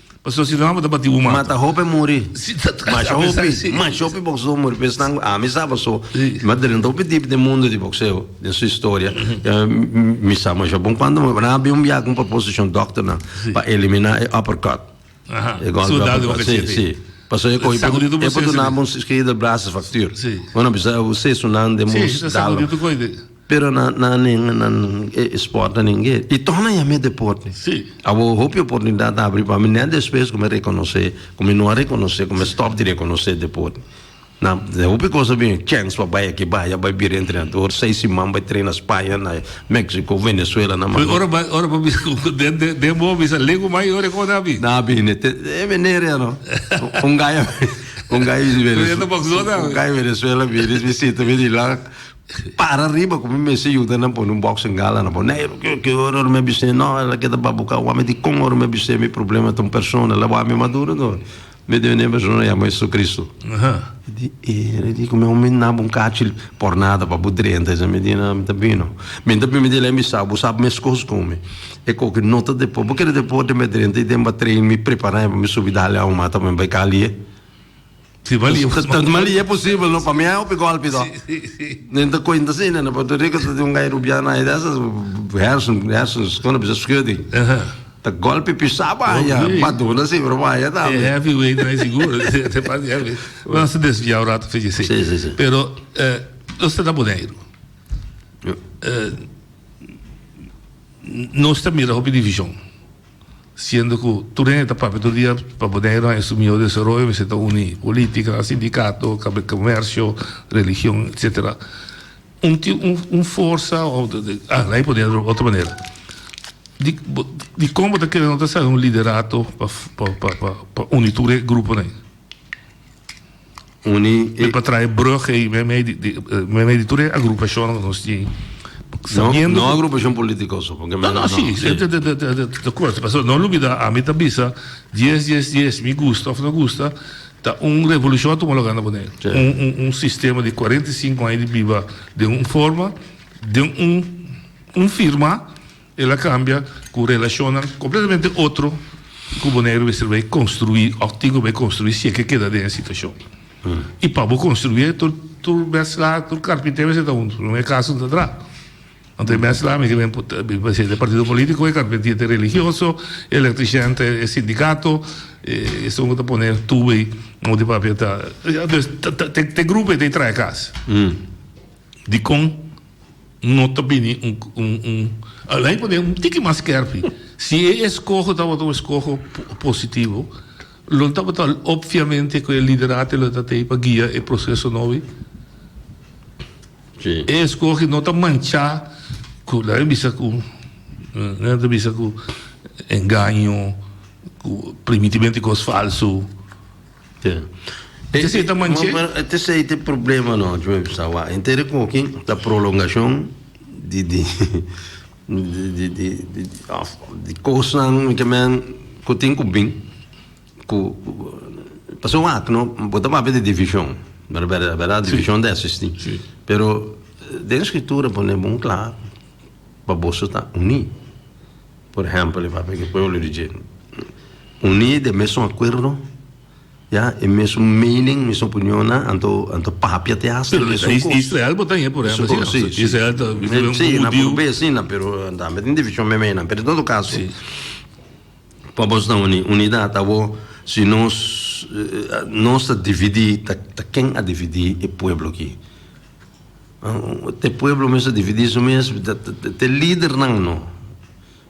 Pasobra si nan abo ta batí bo mata. Mata hopi muri. Masha hopi. Masha hopi boxeo muri. Por esnan ami sa paso mi a drenta hopi dipi den mundo di boxeo den su historia. Mi sa masha bon cuando mi nan a bin un biaha con proposition doctor nan pa elimina e uppercut. E golpe uppercut. Si, si. Paso e cogi e por duna bo un cirugía del brazo fracture. Bo na bisa e seso nan den bo dalo. Pero na na nen na e sporta nen gue y toch na yam'e deporte. Awor hopi oportunidad a habri pa mi net despues cu mi reconoce cu mi no a reconoce cu mi stop di reconoce deporte. Na hopi cosa a bini chance pa bay aki bay allá bay bira entrenador seis siman bay trena Spaña na Mexico, Venezuela na Managua. Pero ora ora pa bisa cu den bo bisa legu mai ora cu na bi. Na bini te e meneer ya no un gaya un gaya di Venezuela un gaya di Venezuela bini visita mi di lak Para riba cu mi mester yuda nan pone un box en gala na bo. Neiru, cu cu ora ora mi a bis'é? No, el a keda babuca wami di con ora mi a bis'é mi problema ta un persona. La wami maduro no. Mi debe neba persona yama Jesucristo. E di e, e di cu mi omi naba un cachi por nada pa bo drenta esnan. Mi di nan, mi ta bino. Mi ta bino, mi di lei mi sa, bo sa mescos cu mi. E coge nota depo, bo kere depo den mi a drenta y den mi a train mi prepar'é pa mi subi dale aumata pa mi bai cali'é. Tansmalia e posibel no pa mi hay hopi golpe do nen ta cuenta si nen na Puerto Rico ta tin un guy rubiano hay dessa hersen hersen scono bisa schudding ta golpe pisa baya maduna si pero baya ta e heavy way na hay seguro te pas di heavy no se desvia un rato fiji si pero nos ta na Boneiru nos ta mira hopi division siendo cu tur hende ta papia tur dia pa Bonaire haya su miho desaroyo mester ta uni politica, sindicato, cambia comercio, religion, etcetera. Un tin un forsa o ala y pone otro otro manera di di con bo ta kere no ta sabe un liderato pa pa pa uni tur e gruponan. uni e. Pa trae brug ei meimei di di meimei di tur e agrupashonnan ku nos tin, No, sabiendo no ku- agrupashon politiko so, paske No, men no, sí, sí. De, de, de, de, de, de acuerdo. Pero no olvida, a mi ta bisa, 10, 10, 10, mi gusta of no gusta, ta un revolucion a tuma lugar na Boneiru. Sí. Un, un, un sistema di 45 aña di biba den un forma, den un, un firma, El a cambia cu relacionnan completamente otro cu bo negro mester bay construi of tin cu bay construi si e ke keda den e situacion. Y pa bo construie tur tur mezcla tur carpinter mester ta hunto no e caso no ta dra. Anto e mezcla ami kiba importa mi parecia ta e partido politico e carpintier ta e religioso e electrician ta e sindicato e esun cu ta pone tubo ahi un di papia ta ta ta ta ta e grupo ahi ta e traha e cas dicon. No ta bini un un alei pone un tiki mas skerpi. Si e eskoho tabata un eskoho positivo, lo tabata opviamente ku e liderato lo ta tei pa guia e proseso nou ei. E eskoho no ta manchá ku laga mi bisa ku laga mi ta bisa ku engaño, ku primitimentu i kos falsu. Esei ta manche. Ete esei ta e problema nochi, mi a bisa awa. E nter ekoki ta prolongashon di di di di di òf di kosnan mi ke men ku tin ku bin ku pasobra wak no bo ta papia di divishon bera bera bera divishon ta esistí pero den e skritura pone bon kla pa boso ta uní. Por ehempel, e papia ku e pueblo di dje uní den e mesun akuerdo, ya, e mesun meening, mesun opinionnan, anto a ta papia te hasta di esun kos. Israel bo ta hei, por ehempel, asina no? Si, Israel ta un judiu. Si, na por be asina, pero tambe tin divishon meimei nan. Pero den todo kaso, pa bos ta uní, unidat abo, si nos nos ta dividí, ta ta ken a dividí e pueblo akí? Te pueblo mes ta dividí su mes, te lidernan no.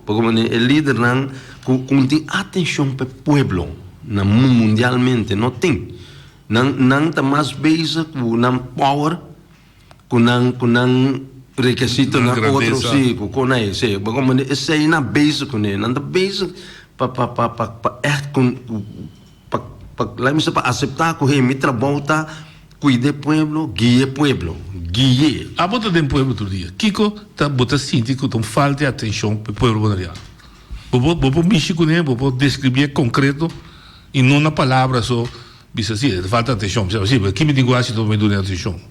Pa kua manera e lidernan ku un tin atenshon pa e pueblo na mundialmente no tin. Nan nan ta mas bezig ku nan power, ku nan ku nan rekesito na otro si ku kon ai esei. Pa kua manera esei nan bezig kuné. Nan ta bezig pa pa pa pa pa ègt ku. Pa pa la mester pa acepta cu he mi trabou ta cuida e pueblo, guia e pueblo, guie. Abo ta den pueblo tur dia. Kico ta bo ta sinti cu ta un falta di atencion pa e pueblo Bonaireano? Bo por bo por mishi cune, bo por describie concreto y no na palabra so bisa si e ta falta atencion, bisa asi, aki mi tin guashi ta bo me duna e atencion.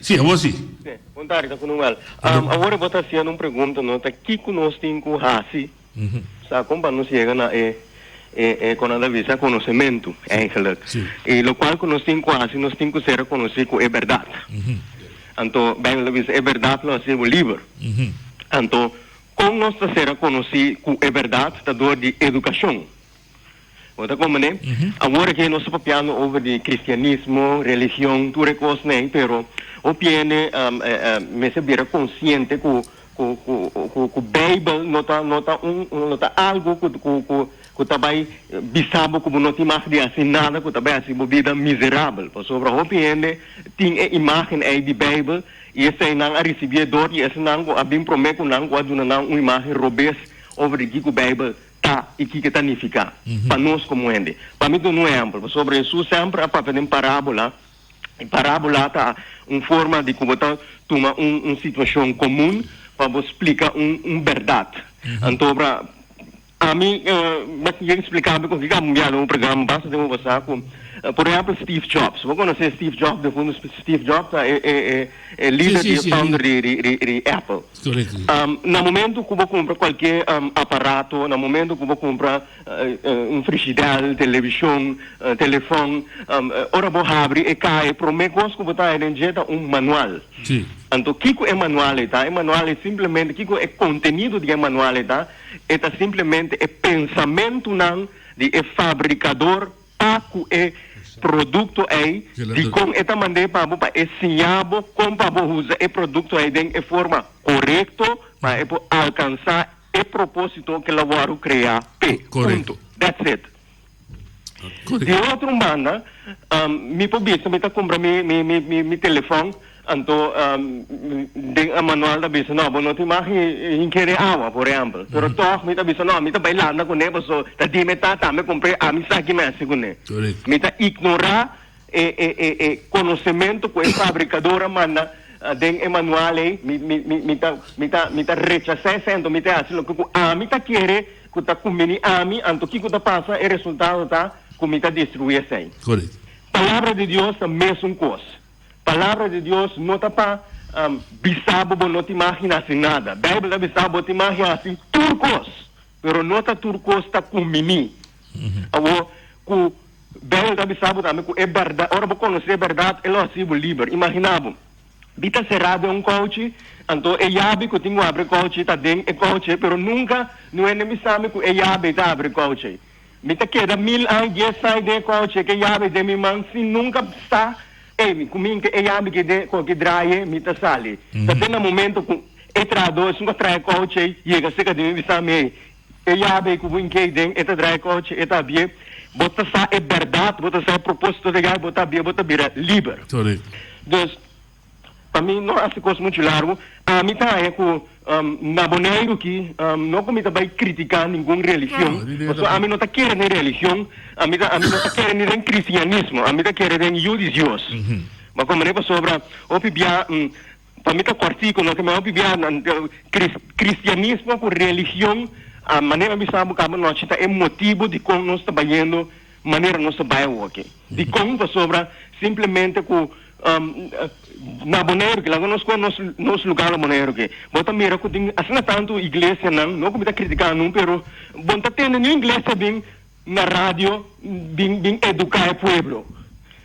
Si, awor si. Bon tarde, Coronel. Awor bo ta haciendo un pregunta, no? Ta kico nos tin cu haci sa con pa nos yega na e, e con nan ta bisa conocemento, eigenlijk. Y locual cu nos tin cu haci, nos tin cu ser reconoci cu e berdad. Anto, Bijbel ta bisa, e berdad lo haci bo liber. Anto, con nos ta ser reconoci cu e berdad ta door di educacion. Bo ta con mane? Awor aki nos ta papiando over di cristianismo, religion, tur e cosnan, pero hopi hende mester bira consciente cu cu cu cu Bijbel no ta no ta un no ta algo cu cu cu cu ta bay bisa bo cu bo no tin mag di haci nada cu ta bay haci bo bida miserabel. Pasobra hopi hende tin e imagen ey di Bijbel y esey nan a ricibi e dor y esnan cu a bin prome cu nan cu a duna nan un imagen robes over di kico Bijbel ta i kiko ta nifiká pa nos komo hende. Pa mi ta duna un ehèmpel, pasobra Hesus semper a papia den parábola, i parábola ta un forma di ku bo ta tuma un situashon komun pa bo splika un bèrdat. Anto obra ami mester yega spliká bo kon kiko amo mi bia den un programa, basta den bo basa ku, por ehèmpel, Steve Jobs. Bo konosé Steve Jobs, Steve Jobs ta e líder di e founder di Apple. Na momento ku bo kumpra kualke aparato, na momento ku bo kumpra un frishidèr, televishon, telefòn, ora bo habri e kaha e promé kos ku bo ta haña den dje ta un manual. Anto kiko e manual ei ta? E manual ei simplemente, kiko e kontenido di e manual ei ta? E ta simplemente e pensamentunan di e fabrikador. Ta ku e produkto ei, dikon e ta mand'é pa bo pa e siña bo kon pa bo usa e produkto ei den e forma korekto pa e por alkansá e propósito ke lo wòrdu kreá p'e. Punto. That's it. Di otro banda, mi por bisa mi ta kumpra mi mi mi mi telefòn Anto, den e manual ta bisa, no, bo no tin mag hinker e awa, por ehempel. Pero tog mi ta bisa, no, mi ta bai landa kuné paso ta di me tata, mi kumpré, ami sa ki mi hasi kuné. Mi ta ignorá e konosementu ku e fabrikador a manda den e manual ei. Mi, mi, mi, mi ta, mi ta, mi ta rechasá esei, anto mi te hasi loke ku ami ta kere, ku ta kumbini ami. Anto kiko ta pasa? E resultado ta ku mi ta destruí esei. Palabra di Dios ta mesun kos. Palabra di Dios no ta pa bisa bo bo no tin magi hasi nada. Bijbel ta bisa bo tin magi hasi tur kos, pero no ta tur kos ta kuminí. Awo ku Bijbel ta bisa bo tambe ku e bèrdat, ora bo konosé e bèrdat, e lo hasi bo liber. Imaginá bo, bi ta será den un kouchi, anto e yabi ku tin ku abri e kouchi ta den e kouchi ei, pero nunka no hende bisa mi ku e yabi ei ta abri e kouchi ei. Mi ta keda mil an dies sai den e kouchi ke yabi den mi man sin nunka sa e mi ku minti e yabi ki den koki draye mi ta sali. Ta den na momento ku e trahadó esun ku a traha e kouchi ei yega seka di mi bisa mi ei e yabi ei ku bo inki ei den e ta draha e kouchi e ta abie bo ta sa e bèrdat bo ta sa e propósito di e yabi bo ta abie bo ta bira liber. Korek. Pa mi no hasi cos mucho largo. Ami ta haña cu na Boneiru aki no cu mi ta bay critica ningun religion, pasobra ami no ta kere den religion, ami ta ami no ta kere ni den cristianismo, ami ta kere den Yu di Dios. Bo a comprende? Pasobra hopi bia pa mi ta cortico no, pero hopi bia cris cristianismo cu religion a manera mi sa bo caba anochi ta e motibo dicon nos ta bayendo Manera nos ta bai awoke. I kon? Pasobra simplemente ku na Boneiru ke, laga nos koge nos nos lugar na Boneiru ke, bo ta mira ku tin asina tantu iglesianan, no ku mi ta kritika anun, pero bo no ta tende niun iglesia bin na radio bin bin eduká e pueblo.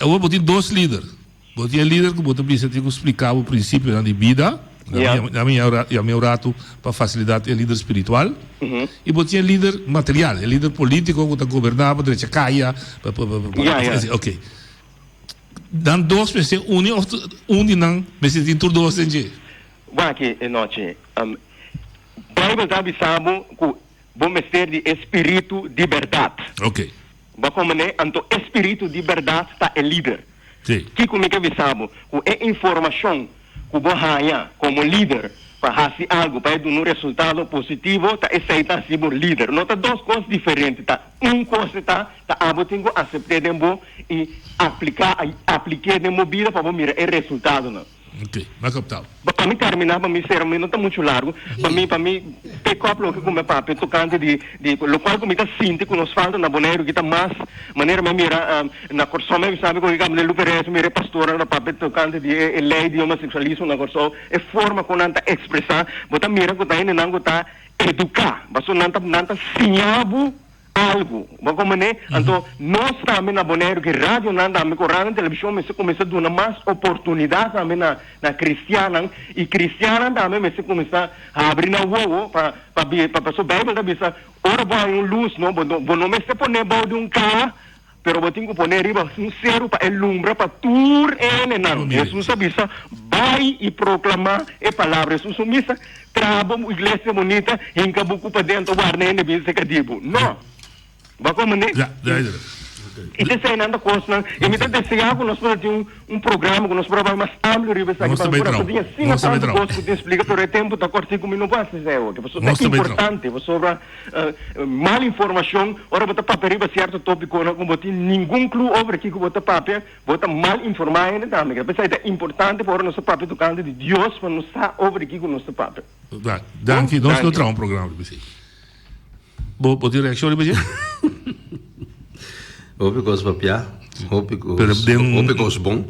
Awor bo tin dos lider. Bo tin e lider ku bo ta bisa tin ku spliká bo prinsipionan di bida, nan mi yam'é un ratu pa fasilidat e lider spiritual, i bo tin e lider material, e lider polítiko ku ta goberná pa drecha kaya, pa así ok. Nan dos mester uni òf un di nan mester tin tur dos den dje? Wak e nochi. Beibel ta bisa bo ku. Bo mester di e spiritu di berdad. Oke. Bo a komend'é, anto e spiritu di berdad ta e lider. Si. Kiko mi ta bisa bo? Ku e informashon ku bo haña komo lider pa hasi algu, pa e duna un resultado positivo, ta esei ta hasi bo lider. No ta dos kos diferente. Ta un kos e ta, ta abo tin ku asept'é den bo i apliká, aplik'é den bo bida pa bo mira e resultadonan. Ok, m'a kaptau. Pa mi terminá pa mi sera pa mi no ta muchu largu pa mi pa mi pick up loke ku mi a papia tokante di di lokual ku mi ta sinti ku nos falta na Boneiru ki ta mas manera mi a mira na Kòrsou mi a bisa mi ku riga Abner Luperez mi a mira e pastornan ku ta papia tokante di e e lei di homoseksualismo na Kòrsou e forma ku nan ta ekspresá bo ta mira ku ta hende nan ku ta eduká pasobra nan ta nan ta siña bo algu. Bo con mane? Anto nos tambe na Boneiru ki radionan tambe cu radio en television mester cuminsa duna mas oportunidad tambe na na cristiannan y cristiannan tambe mester cuminsa habri nan wowo pa pa paso Bijbel ta bisa ora bo hay un luz no bo no bo no mester pone bou di un caha Pero bo tin cu pone riba un seru pa e lumbra pa tur e hendenan. Jesus a bisa, Bay y proclama e palabra e susu misa, Traha bo iglesia bunita, hinca bo cu padentro warda y hende bin seca di bo. No. Wak wak mane? Y te esey nan ta cosnan, y mi ta desea cu nos por ta tin un programa cu nos por a bay mas amplio riba esaki, pasobra nos ta tin asina tanto cos cu tin splica, pero e tempo ta cort, si cu mi no por haci esey awor, pasobra ta importante, pasobra. mal informacion, ora bo ta papia riba cierto topiconan cu bo tin ningun clu over kico bo ta papia, bo ta mal informa e hende tambe. P'esei ta importante pa ora nos ta papia tocante di Dios pa nos sa over di kico nos ta papia. Bra, danki. Nos lo traha un programa riba esei. Bo, bo tin reaccion riba esei? Hopi cos papia, hopi cos, Pero den- hopi cos bon.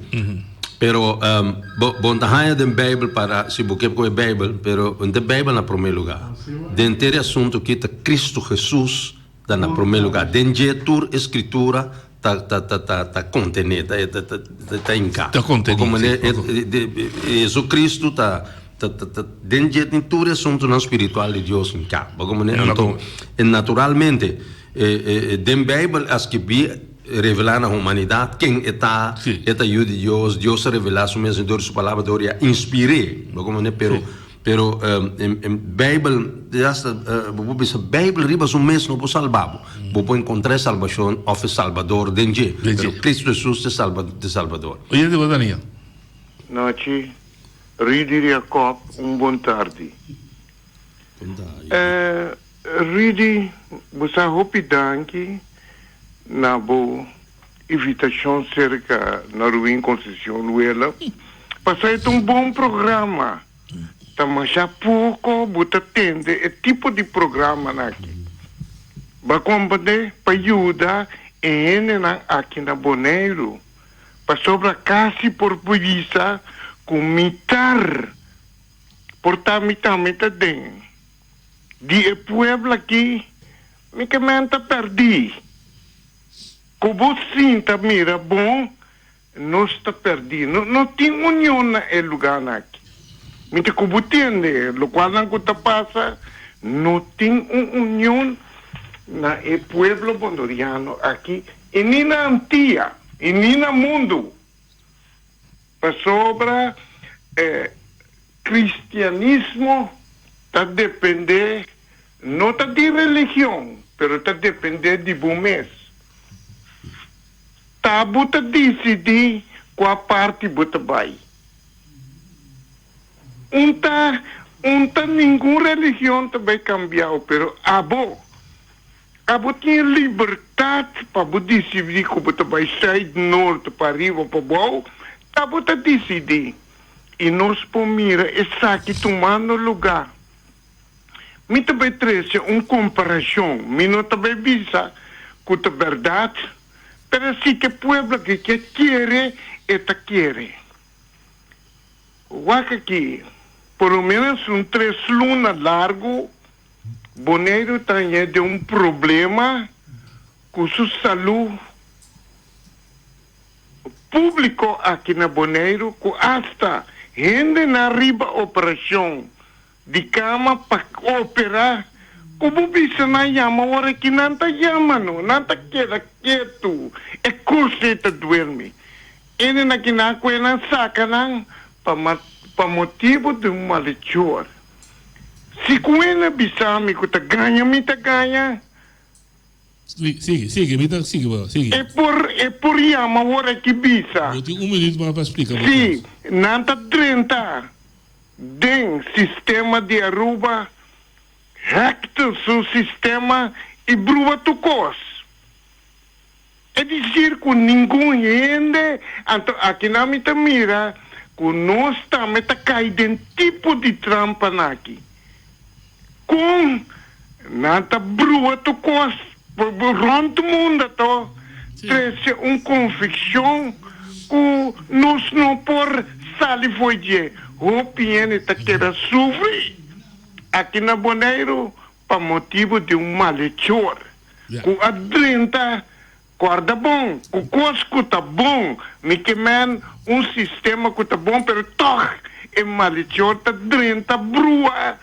Pero um, bo, bon ta haya den Bijbel para si bo kep koe Bijbel, pero de Bijbel na primer lugar. Den teri asunto kita Cristo Jesus ta na primer lugar. Den je tur escritura ta ta ta ta ta contene, ta ta ta ta, ta inca. Ta conteni, Bo komane, si, ok. e- de- de- Jesu Cristo ta ta ta ta den je tin tur e asuntonan spiritual di Dios inca. Bo komane, Inca, anto, bo. e naturalmente Den Bijbel a skirbí, Revelá na humanidat ken e ta, e ta Yu di Dios, Dios a revelá Su mes dor di Su Palabra, dor di a inspir'é. Bo komo manera? Pero, pero, Bijbel, hasta bo por bisa Bijbel riba su mes no por salbá bo. Bo por enkontrá e salbashon òf e Salbador den dje, pero Kristu Hesus ta e Salba, ta e Salbador. Oyente, bo ta niña? Nachi, Rui di Riacòb, un bon tardi. E. Rudy bo sa hopi danki na bo invitacion cerca Norwin Concepcion Luela pasa e ta un bon programa ta masha poco bo ta tende e tipo di programanan aki ba compande pa yuda e hendenan aki na Boneiru pasobra casi por bisa cu mi tar por ta mi tambe ta den. di e pueblo aki mikimen ta perdi. Ku bo sin ta mira bon nos ta perdi. No tin union na e luganan aki. Miti ku bo tende lokualnan ku ta pasa, no tin un union na e pueblo bondoriano aki i ni na Antia i ni na mundu. Pasobra e cristianismo ta depende, no ta di religion, pero ta depende di bo mes. Ta bo ta dicidi cua parti bo ta bay. Un ta, un ta, ningun religion ta bay cambiao, pero abo. Ta bo tin libertat pa bo disidí ku bo ta bai sùit, nort, pa ariba o pa bou, ta bo ta disidí. I nos por mira esaki tumando lugá. Mi ta bai trese un komparashon, mi no ta bai bisa ku ta bèrdat, pero si te pueblo aki ke kere, e ta kere. Wak aki, por lo ménos un tres luna largu. Boneiru ta aña den un problema cu su salud publico aki na Boneiru cu hasta hendenan riba operacion di cama pa opera cu bo bisa nan yama ora aki nan ta yama no, nan ta keda ketu e cursi ta duermi. Hendenan aki nan cu e nan saca nan pa motibo di un malhechor. Si cu e na bisami cu ta gaña, mi ta gaña. Sigi, sigi, sigi, mi ta sigi bo, sigi. E por, e por yama ora ki bisa. Bo tin un minuut mas pa splica bo Si cos. nan ta drenta den sistema di Aruba, hackten su sistema y bruba tur cos. E dicir cu ningun hende anto akinan mi ta mira cu nos tambe ta cay den tipo di trampa naki. Con nan ta brua tur cos rond munda to trece un conviccion cu nos no por sali fo'i dje. Hopi hende ta keda sufri aki na Boneiru pa motibu di un malechor ku a drenta kòrda bon ku kos ku ta bon. Mi ke mèn un sistema ku ta bon, pero tòg e malechor ta drenta brua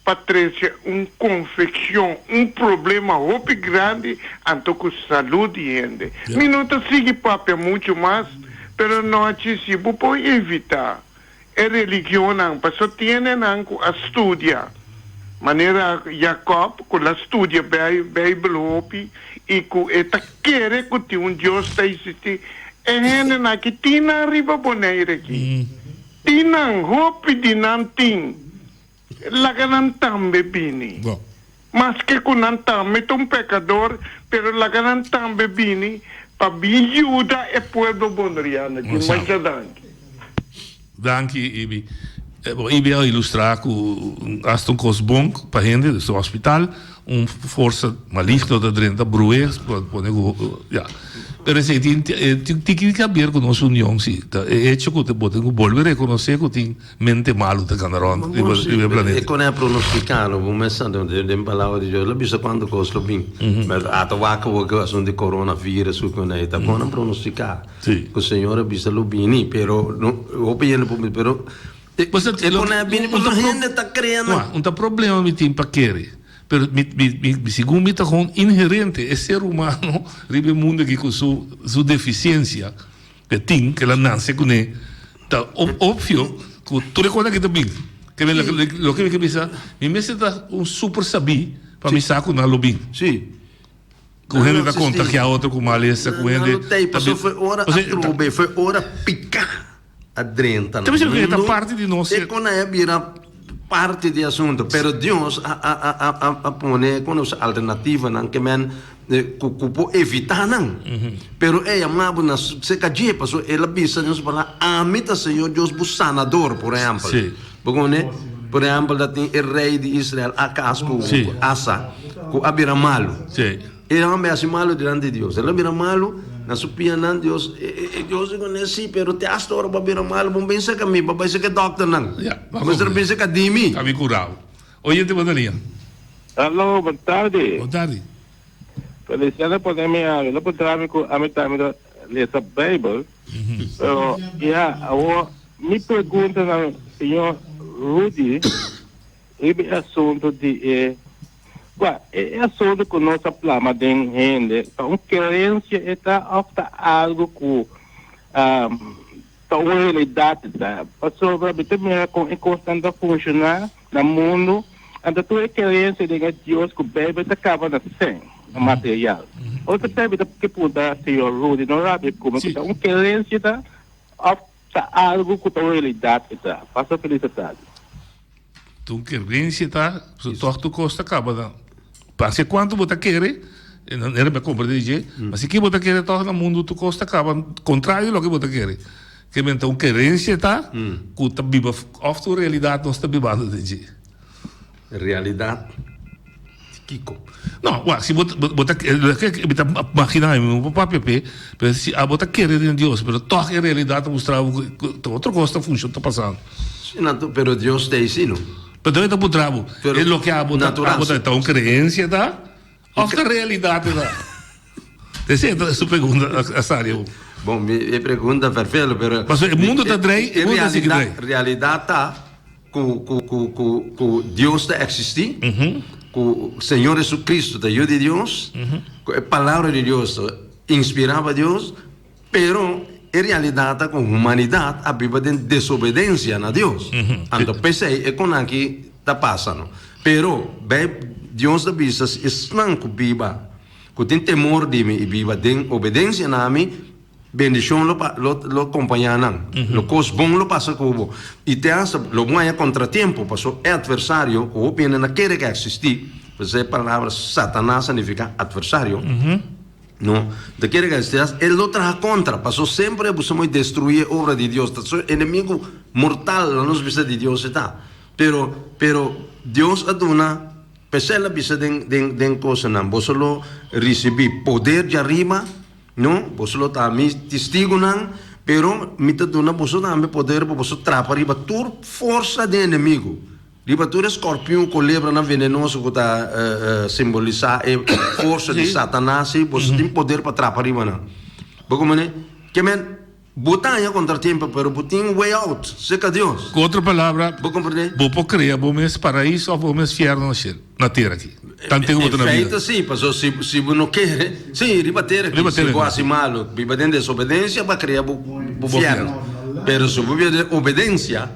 pa trese un konfekshon, un problema hopi grandi anto ku salud di hende. Mi no ta sigui papia muchu mas, pero anochi si bo por evitá e religionnan pasobra tiene nan cu a studia, manera Jacob cu lo a studia Bijbel hopi y cu e ta kere cu tin un Dios ta existi. E hendenan aki tin nan riba Bonaire aki, tin nan, hopi di nan tin. Laga nan tambe bini. Maske ku nan ta mit un pekador, pero laga nan tambe bini pa bin yuda e pueblo Boneriana aki. Mucha danki. Danki Ibi. Bo Ibi a ilustrá ku asta un kos bon pa hende, des un hospital, un forsa maligno ta drenta bruhé, bo a pone ku ya. Pero esei tin tin un tiki di kaber ku nos union si. Ta e hecho ku bo tin ku bolbe rekonosé ku tin. Mente malu ta kanda rond riba e planeta. E konèl pronostikado, bo mes sa den Palabra di Dios lo bisa kuantu kos lo bin, bèrdad? Ata wak bo ku asuntu di Coronavirus ku konei, ta bon nan pronostiká ku Señor a bisa lo bini, pero hopi hende por bisa pero e konèl bini pasobra hende ta krea nan. Un ta problema mi tin pa kere, pero mi segun mi ta kon inherente e ser humano riba e mundu aki ku su deficiencia. E tin ke la nase kuné ta obvio ku tur e kosnan ke ta bin. Ke men loke mi ke bisa, mi mester ta un super sabí pa mi sa ku nan lo bin. Sí. Ku hende ta kontagiá otro ku malesa, ku hende ta bin. Nan lo tei, pasobra fue ora a trob'é, fue ora piká a drenta nan. Ta bisa ku e ta parti di nos. E kosnan a bira. parti di e asuntu, pero Dios a pone con nos alternativanan ke men ku por evitá nan. Pero ey a mna bo na seka dje, pasobra el a bisa den su Palabra, Ami ta Señor Dios bo Sanador, por ehempel. Bo koné? Por ehempel ta tin e rei di Israel, Acaz, ku Asa, ku a bira malu. E hombe haci malo dilanti di Dios. El a bira malo na su pianan. Dios e Dios di cune'e? Sí, pero te hasta ora bo a bira malo. Bo no bin seca mi, bo a bai seca e doctornan. Bo mester a bin seca di mi. Ta mi curao. Oyente bo na liña. Hallo, bon tardi. Bon tardi. Feliciano a pone mi awe. No por traha mi cu ami ta mira lesa Bijbel. Pero ya, awor mi pregunta na señor Rudy. Riba e asuntu di e Kua e asuntu ku nos a plama den hende? Ta un krensia e ta òf ta algu ku ta un realidat e ta? Pasobra mi ta mira kon e kosnan ta funshoná na mundu, anto tur e krensia den e Dios ku Beibel ta kaba na sen, na material. Ora ta pega mi ta ke punta señor Rudy Norabio kume ku ta un krensia e ta òf. Ta algu ku ta un realidat e ta. Pasa felis e ta di. Tun ke rensia ta so tog tu kos ta kaba na pasia kuantu bo ta kere nan e riba kompra di dje ma si ke bo ta kere tog na mundu tu kos ta kaba kontrario loke bo ta kere ke men ta un kerensia e ta ku ta biba òf ta un realidat nos ta bibando den dje. Realidad di kiko? No, wak, si bo bo ta mi ta magina mi bo papia p'e, pero si abo ta kere den Dios pero tog e realidad ta mustra bo ku ta otro kos ta funshon ta pasando. Si natu, pero Dios t'ei si no. Perdon e ta puntra bo, e loke abo ta abo ta un creencia ta? Of ta realidad e ta? Te si enta su pregunta a sali aún. Bon, mi e pregunta vervelo, pero. Paso e mundo ta draai, e mundo ta sigui draai. E realidad ta cu, cu, cu, cu, cu Dios ta existi, cu Señor Jesucristo ta Yu di Dios, cu e Palabra di Dios ta inspira pa Dios. Pero e realidad ta cu humanidad a biba den desobedencia na Dios. Anto pesey e con aki ta pasa no. Pero Bijb, Dios ta bisa si esnan cu biba, cu tin temor di mi y biba den obedencia na mi, bendicion lo pa, lo, lo compaña nan. Lo cos bon lo pasa cu bo. Y te hasta lo bon haya contratiempo, paso e adversario cu hopi hende na kere ca existi, pesey e palabra Satanas a nifica adversario, No ta kere kastigas, el lo traha kontra, pasobra semper e buska moe destruí e obra di Dios, ta su enemigu mortal na nos bista di Dios e ta. Pero, pero Dios a duna, pa esei el a bisa den, den, den kosanan, Boso lo risibí poder dja riba, no, boso lo ta mi tistigunan, pero mi ta duna boso tambe poder pa boso trapa riba tur forsa di enemigu. Riba tur e skorpion, kulebranan venenoso ku ta simbolisá e forsa di Satanas ei, boso tin poder pa trapa riba nan. Bo komo ne, Ke men, bo daña kontratiempo, pero bo tin way out serka Dios. Ku otro palabra, bo por krea bo mes paraiso òf bo mes fièrnu na shel, na tera aki, ta antigua bo ta na bida. En feito si, pasobra si, si bo no kere, si, riba tera aki, si bo hasi malu, biba den desobedensia, bo a krea bo fièrnu. Pero si bo biba den obedensia,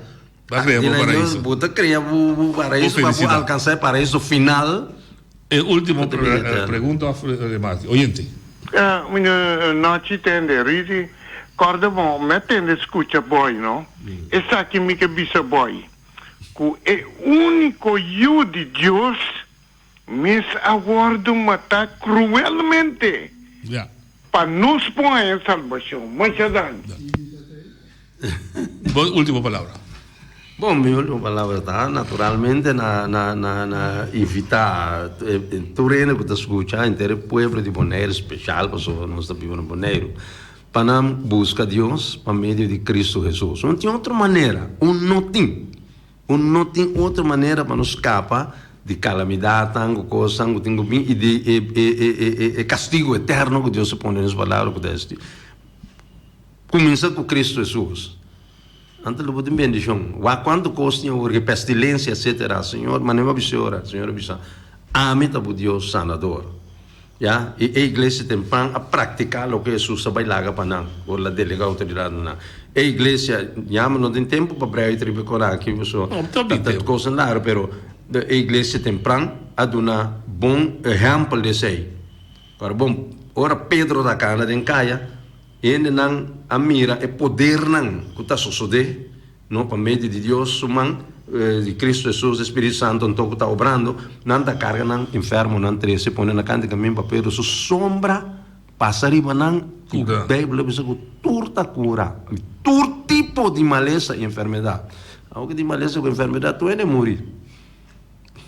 Ta crea bo paraiso. Bo ta crea bo paraiso pa bo alcansa e paraiso final. E ultimo pregunta of remate. Oyente. Mino nochi tende Riri, corda bo me tende scucha boy no, esaki mi ke bisa boy, cu e unico yu di Dios, Mes a wòrdu matá kruelmente pa nos por haña salbashon. Mucha dani. Bo último palabra. Bon, mi último palabra ta naturalmente na na invitá tur hende ku ta skucha, henter e pueblo di Boneiru speshal pasobra nos ta biba na Boneiru, pa nan buska Dios pa medio di Kristu Hesus. No tin otro manera, un no tin. Cu no tin otro manera pa nos scapa di calamidadnan cu cosnan cu tin cu bin y di e castigo eterno cu Dios a pone den Su Palabra cu ta esti, Cuminsa cu Cristo Hesus, Ante lo bo tin bendicion. Wak cuanto cos tin awor cu e pestilencia etcetera, Señor, manera bo a bisa e ora, Señor a bisa, Ami ta bo Dios Sanador. Ya, i e iglesia den pan a praktiká loke Hesus a bai laga pa nan, ora el a delegá outoridatnan. E iglesia yama no den tempu pa brega ei riba kos aki, pasobra ta ta kosnan laga, pero e iglesia tempran a duna bon ehèmpel di esei. Ora bon, ora Pedro a ta kana den kaya, hendenan a mira e podernan ku ta sosodé. No, pa medio di Dios su man, di Cristo Hesus, di Spiritu Santo anto cu ta obrando, nan ta carga nan enfermonan trece, pone na canta y camin pa Pedro su sombra pasa riba nan, y Bijbel a bisa cu tur ta cura, tur tipo di malesa y enfermedad. Awo cu tin malesa cu enfermedad tu hende a muri.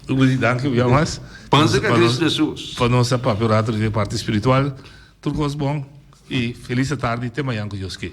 Rudy, danki un bia mas. Pansa ca Cristo Hesus. Pa nos a papia un rato riba e parti spiritual. Tur cos bon y feliz atardi. Te mañan cu Dios kier.